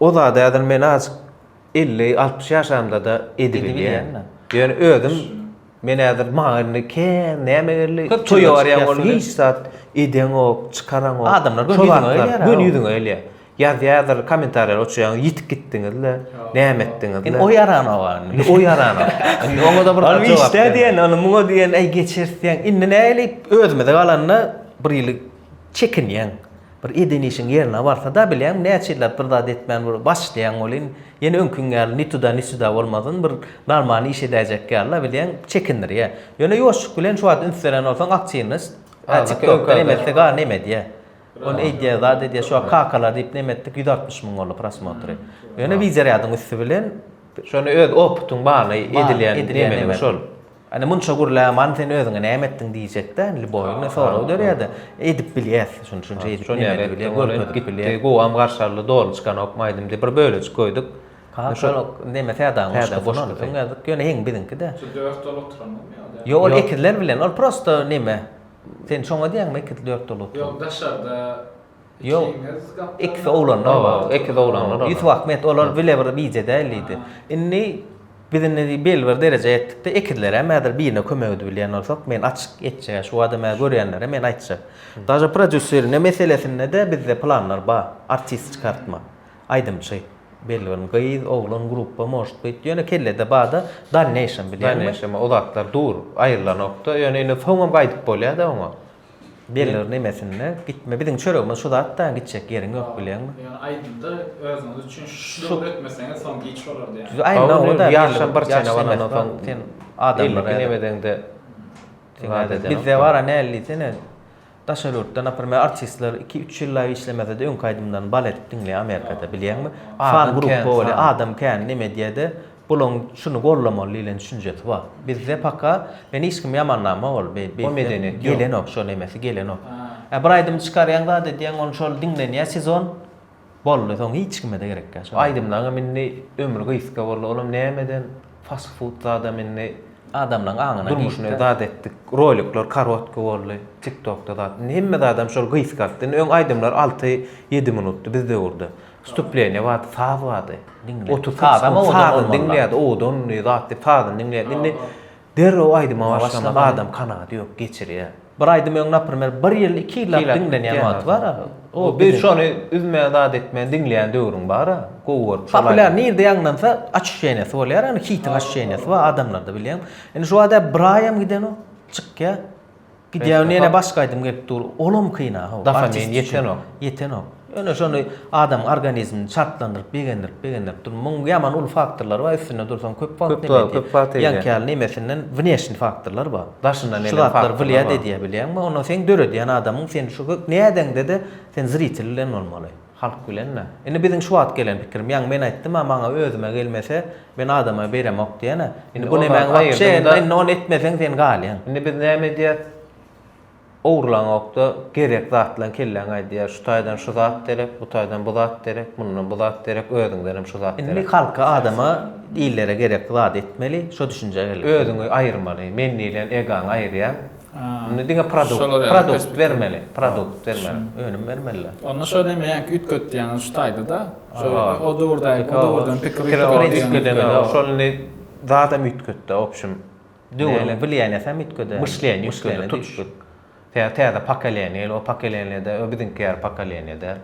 O zady häzir men azjyk elli, altmyş ýaşamda-da edibilýän. Ýöne özüm men häzir maňa indi kän näme geldi, toýa barýan bolup hiç zat edeňok, çykaraňok. Adamlar göni ýüzüňe gelýär. Göni ýüzüňe gelýär. Ýazýardyr kommentariýa oçurýaň, ýitip gitdiňiz-le, näme etdiňiz-le. Indi o ýaranok a indi. O ýaranok. Indi oňa-da bir zat jogap bermez. Ol işdä diýen, ol muňa diýen, äý geçeris diýen. Indi näliýip özümize galanda bir hili çekinýäň. Bir eden işiň ýerine barsa-da bilýäň, näçe ýyllap bir zat etmän bir başlaýaň welin, ýene öňkiň ýaly ni tuda, ni süda bolmasyn, bir normalny iş edäýjek ýaly-la bilýäň, çekindirýär. Ýöne ýoşup bilen şu wagt üns beren bolsaň aktiwnost, äpjik öňküden emetse gaa neme edýär. Ony eýdýär, zat edýär, şu wagt kakalar diýip neme etdik, ýüz altmyş müň boldy prosmotry. Ýöne widýorýadyň üsti bilen. Şony öz opytyň bany edilýän nemeliň şol. Indi munça gürläman sen özüňe näme etdiň diýjekdä, indi boýun sorag dörýärdi. Edip bilýäs, şuny şunça edip bilýär. Görkezip bilýär. Gowam garşaldy, doly çykanokmy aýdym diýip bir bölejik goýduk. Kakak neme Sädagyň goşgusy. Öň ýazyk ýöne heň biziňkide. Şu dört dol oturanmy ýa-da? Ýok ol ekizler bilen, ol prosta neme. Sen şoňa diýýäňmi ekiz dört dol oturan. Ýok daşarda. Ýok. Ekiz oglanlar bar. Ýok, ekiz oglanlar bar. Ýusup Ahmet olar bile bir bije däl diýdi. Indi biz indi belli bir derejä ýetdik-de, ekizler hem häzir birine kömek edip bilýän bolsak, men açyk etjek, şu adam hä görýänlere men aýtjak. Daže prodýuserine meselesinde-de bizde planlar bar. Artist çykartmak, aýdymçy, belli bir gyz, oglan, gruppa, может быть, ýöne kellede bar-da, dalneýşem bilýäňmi? Dalneýşem o zatlar dur, aýrylanok-da, ýöne indi soňam gaýdyp bolýa-da oňa. Bellidir nemesinde gitme biziň çöregimiz şu zat da gitjek ýeriň ýok bilýäňmi. Ýöne aýdymda özüňiz üçin şu döwür etmeseňiz soň giç bolardy ýaly. Aýna oňa da ýaşam bir çene balandan soň sen adamlara elli nemedeňde zat ederok. Bizde bara näl diýsene daşary ýurtda naprimer artistler iki üç ýyllap işlemesede öňki aýdymlaryny bal edip diňleýär amerikada bilýäňmi fan gruppa bolýar adam kän neme edýärde Bulaň şuny gollamaly diýlen düşünjesi bar. Bizde paka men hiç kimi ýamanlama ol be be medeniýet gelenok şo nemesi gelenok. Ä bir aýdymy çykarýaň zat edýäň ony şol diňlenýä sezon boldy soň hiç kimede gerekýä şo. Aýdymlaňam indi ömri gysga boldy olam nämeden fast food zadam indi adamlaň aňyna girdi. Durmuşyny zat etdik rolikler karotki boldy tiktokda zat indi hemme zadam şol gysgaltdy indi öň aýdymlar alty ýedi minutdy biz döwürde Wstupleniýa bardy, saz bardy. Otuz sakys gün sazyny diňleýärdi, owadan zat diýip sazyny diňleýärdi. Indi derrew aýdyma başlamak adam kanagaty ýok, geçirýär. Bir aýdym öň naprimer bir ýyl, iki ýyllap diňlenýän wagty bar. Biz şony üzmän zat etmän diňleýän döwrüň bar. Gowy görüp. Populiar nirde ýaňlansa açuşeniýasy bolýar, ýagny hitiň açuşeniýasy bar adamlarda bilýäňmi. Indi şu bada bir aýam gidenok, çykýar. Gidýän ýene başga aýdym gelip dur. Olam kyn a ho. Dafa men ýetenok. Ýetenok. Ýöne şony adamyň organizmini çarplandyryp, begendirip, begendirip dur. Muň ýaman uly faktorlary bar. Üstünde dursaň köp wagt näme edýär. Köp wagt edýär. Ýaňky ýaly nemesinden wneşni faktorlar bar. Daşyndan eden faktorlar bar. Şu zatlar wlýad edýär bilýäňmi? Ondan seň döredýän adamyň sen şu nädeňde-de sen zritel bilen bolmaly. Halk bilenmi? Indi biziň şu wagt gelen pikirim, ýaňy men aýtdym-a, maňa özüme gelmese, men adama beremok diýen-ä. Indi bu nemäň wapşe, indi ony etmeseň sen galýaň. Indi biz näme edýäs? Ogurlaňok-da, gerek zatlaň kelläňe aýdýar, şu taýdan şu zat derek, bu taýdan bu zat derek, mundan bu zat derek, özüňdenem şu zat derek. Indi halka, adama, illere gerekli zady etmeli, şo düşünjä gelip. Özüňi aýyrmaly, men diýlen egaňy aýyrýaň. Onda diňe produkt, produkt bermeli, produkt bermeli, önüm bermeli-de. Onda şo näme ýaňky üýtgetýäňiz şu taýda-da, şo o döwürdaýy, o döwürden pikir üýtgedemizok, şol indi zadam üýtgetdi, obşim, döwrüň bilýänesi-ä üýtgeder, myşleniýe üýtgeder, tutuşlyk, täze pokoleniýa gel, o pokoleniýa-da, o biziňki ýaly pokoleniýa däl.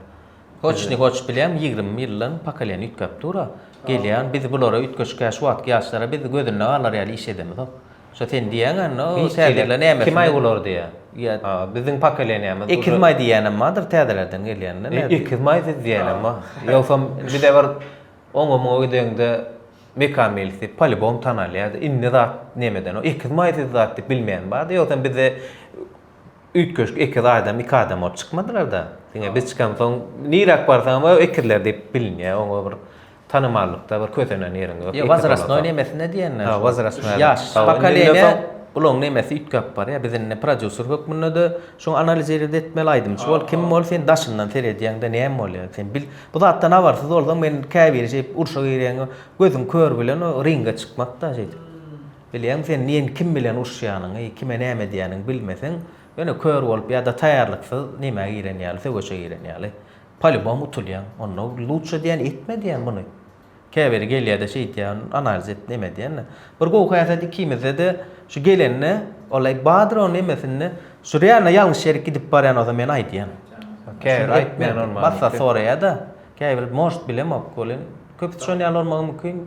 Hoç ni hoç bilýän, ýigrimi ýyldan pokoleniýa üýtgäp dur-a, gelýän, biz bulara üýtgeşik, şu wagtky ýaşlara biz gözünde galar ýaly iş edemizok. Şo sen diýýäň anna o täzeler näme kim aý bular diýýä. Ýa biziň pokoleniýamyz. Ekiz maý diýýänem bardyr täzelerden gelýänler nädip. Ýa ekiz maý siz diýýänem bar. Ýogsam bize bir oňa muňa gideňde Mekan meýlisli polibom tanalýardy. Indi zat nemeden o ekiz maý siz zat diýip bilmeýän bardy. Ýogsam bizde üýtgeşik ekiz adam iki adam bolup çykmadylar-da. Diňe biz çykansoň niräk barsaňam o ekizler diýip bilinýär. Oňa bir Tanamallykda bir kösenen ýeriň ýok. Ýok wozrastnoý nemesine diýenler şo. Ha wozrastnoý ýaş pokoleniýa olaň nemesi üýtgäp barýa biz indi prodýuser hökmündede şuň analizirid etmeli aýdymçy bol kim bol sen daşyndan seredýäňde näme bolýa sen bil bu zatdan habarsyz bolsaň men käbiri şeýdip urşa girýäňe gözüň kör bilen o ringe çykmakda şeýdip bilýäňmi sen neýni kim bilen urşýanyňy kime näme edýäniňi bilmeseň ýöne kör bolup ýa-da taýýarlyksyz nämä giren ýaly söweşe giren ýaly. Polibom utulýaň onda luçşe diýýän etme diýýän muny käbiri gelýäde şeýtýän analiz et neme diýende bir gowy häsiýet ikimizdede şu gelende wallay badyr o nemesinde şu realno ýalňyş ýerik gidip barýan bolsa men aýdýan käbiri aýtmaýan bolmaly massat soraýada käbiri может bilemok welin köpüsi şon ýaly bolmagy mümkin.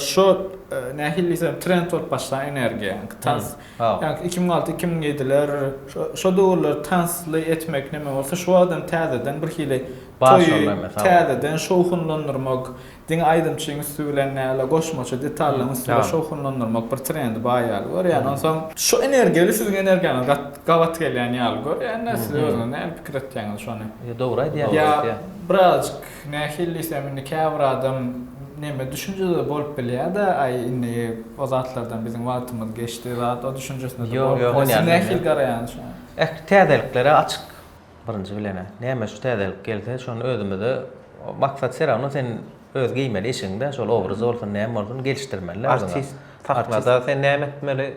Şu nähili diýsem trend bolup başlan energiýa. Tans. Ýa-da 2006-2007-ler şo döwürler tansly etmek näme bolsa şu wagtam täzeden bir hili toýy täzeden şowhunlandyrmak, diňe aýdymçyň üsti bilen näle goşmaça detallaryň üsti bilen şowhunlandyrmak bir trendi bar ýaly görýän. Onsoň şu energiýa ile siziň energiýaňyz gabat gelýän ýaly görýän-de siz özüňiz nähili pikir etýäňiz şony? Ýa dogry aýdýaňyz. Ýa birazajyk Nähillis hem indi käbir adam neme düşünjede bolup bilýär-de, aý indi o zatlardan biziň wagtymyz geçdi zat o düşünjesinde de bolup bilýär. Siz nähili garaýaňyz şoňa? Eh, täzeliklere açyk birinji bilen-ä. Näme şu täzelik gelse, şony özümize maksat se rawno sen öz geýmeli eşigiňde şol obraz bolsun, näme bolsun gelişdirmeli-dä özüňe. Artist sahnada sen näme etmeli?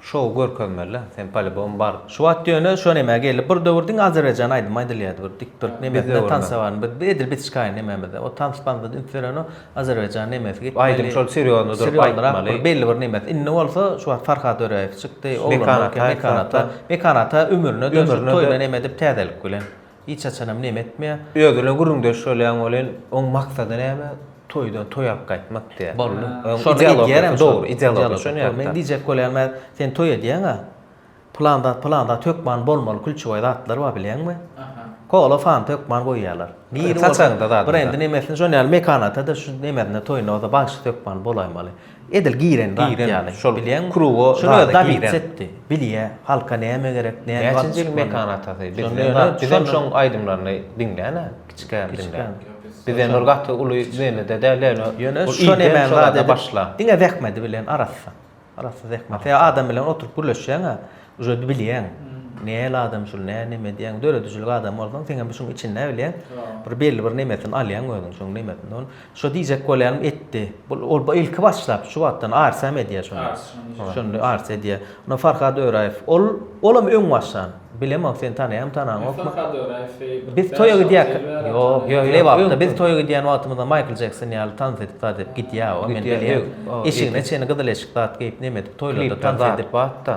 Şow görkezmeli sen polibom bar. Şu wagt ýöne şo nämä geldi bir döwür diňe azerbaýjan aýdymy aýdylýardy bir dik turk nemesine tans bar edil bitişkaý nememizde o tans pansa üns berenok azerbaýjan nemesi gitmeli aýdym şol serýozny durup aýtmaly belli bir nemesi indi bolsa şu wagt farhat öräýew çykdy mekan ata mekan ata ömrüne dönşüp toýuna neme edip täzelik bilen. Hiç haçanam neme etmeýär. Özüne gürrüňdeş bolýan welin, oň maksady näme? Toýdan toý alyp gaýtmak diýýär. Boldy. Şony edýärem. Dogry, ideologiýa şony ýapyp. Men diýjek bolýan mä, sen toý edýäň-ä. Pylan zat, pylan zat hökman bolmaly, külçebaý zatlar bar bilýäňmi? Kola, fanta hökman goýýarlar. Niri bolsa, brendi nemesini şony ýaly mekana ata-da, şu nemesine, toýuna bolsa bagşysy hökman bolaýmaly. Edil giren zat ýaly. Şol bilýän kruga zada giren. Şuny Dawid etdi. Bilýä, halka näme gerek, näme galdy. Näçenji ýyl Mekan atasy. Bizem şoň aýdymlaryny diňlän-ä, kiçikäm diňlän. Bizem bir gaty uly menede däl ýöne. Ýöne şo nämäni zat edip başla. Diňe zähmedi bilen arassa. Arassa zähmet. Adam bilen oturyp gürleşýäň-ä. Ujady bilýäň. Näl adam şul, nä neme diýýäň. Döredijilik adamy bolsaň, seň hem şuň içinde bilýäň. Bir belli bir nemesini alýaň özüň şuň nemesini. Ol şo diýjek bolýanym etdi. Bu ol ilki başlap şu wagtdan arsam edýär şony. Şony arsa edýär. Ony Farhad Öraýew. Ol olam öň başdan. Bilemok sen tanaýaňmy, tanaňokmy. Farhad Öraýewi. Biz toýa gidýäk. Ýok, ýok, ýok. Wagtda biz toýa gidýän wagtymyzda Maýkl Jekson ýaly tans edip zat edip gidýär. Eşigine çenli gyzyl eşik zat geýip neme edip. Toýlarda tans edip atda.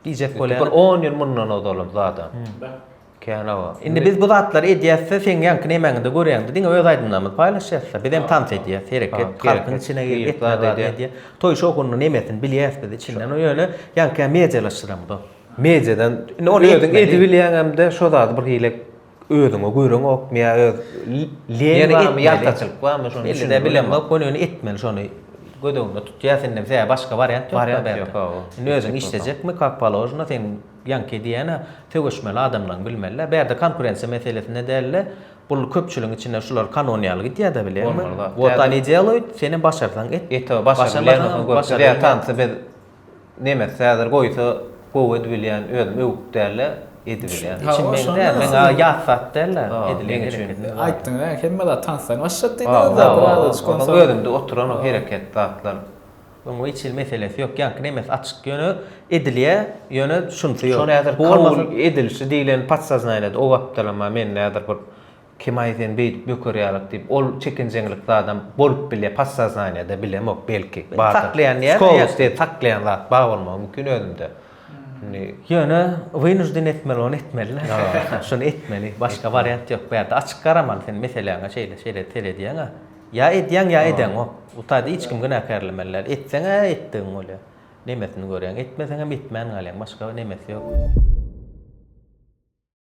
Diýjek bolýan. Bir on ýyl mundan ozalam zada. Kena bar. Indi biz bu zatlary edýäsde seň ýaňky nemäňde görýäňde diňe öz aýdymlarymyzy paýlaşýasda. Biz hem tans edýäs, hereket, halkyň içine girip etme zady edýäs. Toý şowhunyny nemesini bilýäs biz içinden. Ýöne ýaňky medialaşdyramyzok. Mediadan indi ony özüň edibilýäňemde şo zady birhili Özüňe göreňokmy ýa öz leň barmy, ýaltaçylyk barmy şony düşünmek bilemok. Muny indi etmeli şony göz öňünde tut. Ýa sende sebäbi başga wariant ýok. Wariant ýok hawa. Indi özüň işlejekmi kak položno seň ýaňky edýänä söweşmeli adamlaň bilmelidä. Bärde konkurensiýa meselesinde dälde bul köpçüligiň içinde şular kanon ýaly gidýädä bilýäňmi. Bolmaz wah. Wot ani deloit senem başarsaň et. Et hawa başarsaň başarmasaň gör. Tansy biz Nemes häzir goýsa gowy edibilýän özüm öwüp dälde edibilýän. Üçin meň däl. Meň ýat zat dälde edilen gereket. Aýtdyň näme hemme zat tansdan başlap diýdiňiz zat birader çykan soň. Özümde oturan o hereket zatlar. Oňa hiç hili meselesi ýok. Ýaňky nemes açyk ýöne edilýä ýöne şunysy ýok. Şony häzir kabul edilişi diýlen podsaznaniýada o wagtdanam mende häzir bir Kemaý sen beýdip böker ýalyk diýip ol çekinjeňlik zadam bolup bilýä podsaznaniýada bilemok belki bardyr. Saklaýan diýýä. Skolosti saklaýan zat bar bolmagy mümkin özümde. Indi. Ýöne wynujden etmeli ony etmeli. Şuny etmeli başga wariant ýok bu ýerde açyk garamaly sen meseläňe şeýle şeýle seredýäňä ýa edýäň ýa edeňok bu taýda hiç kim günäkärlemeli däl etseňä etdigiň bolýa nemesini görýäň etmeseňem etmän galýaň başga nemesi ýok.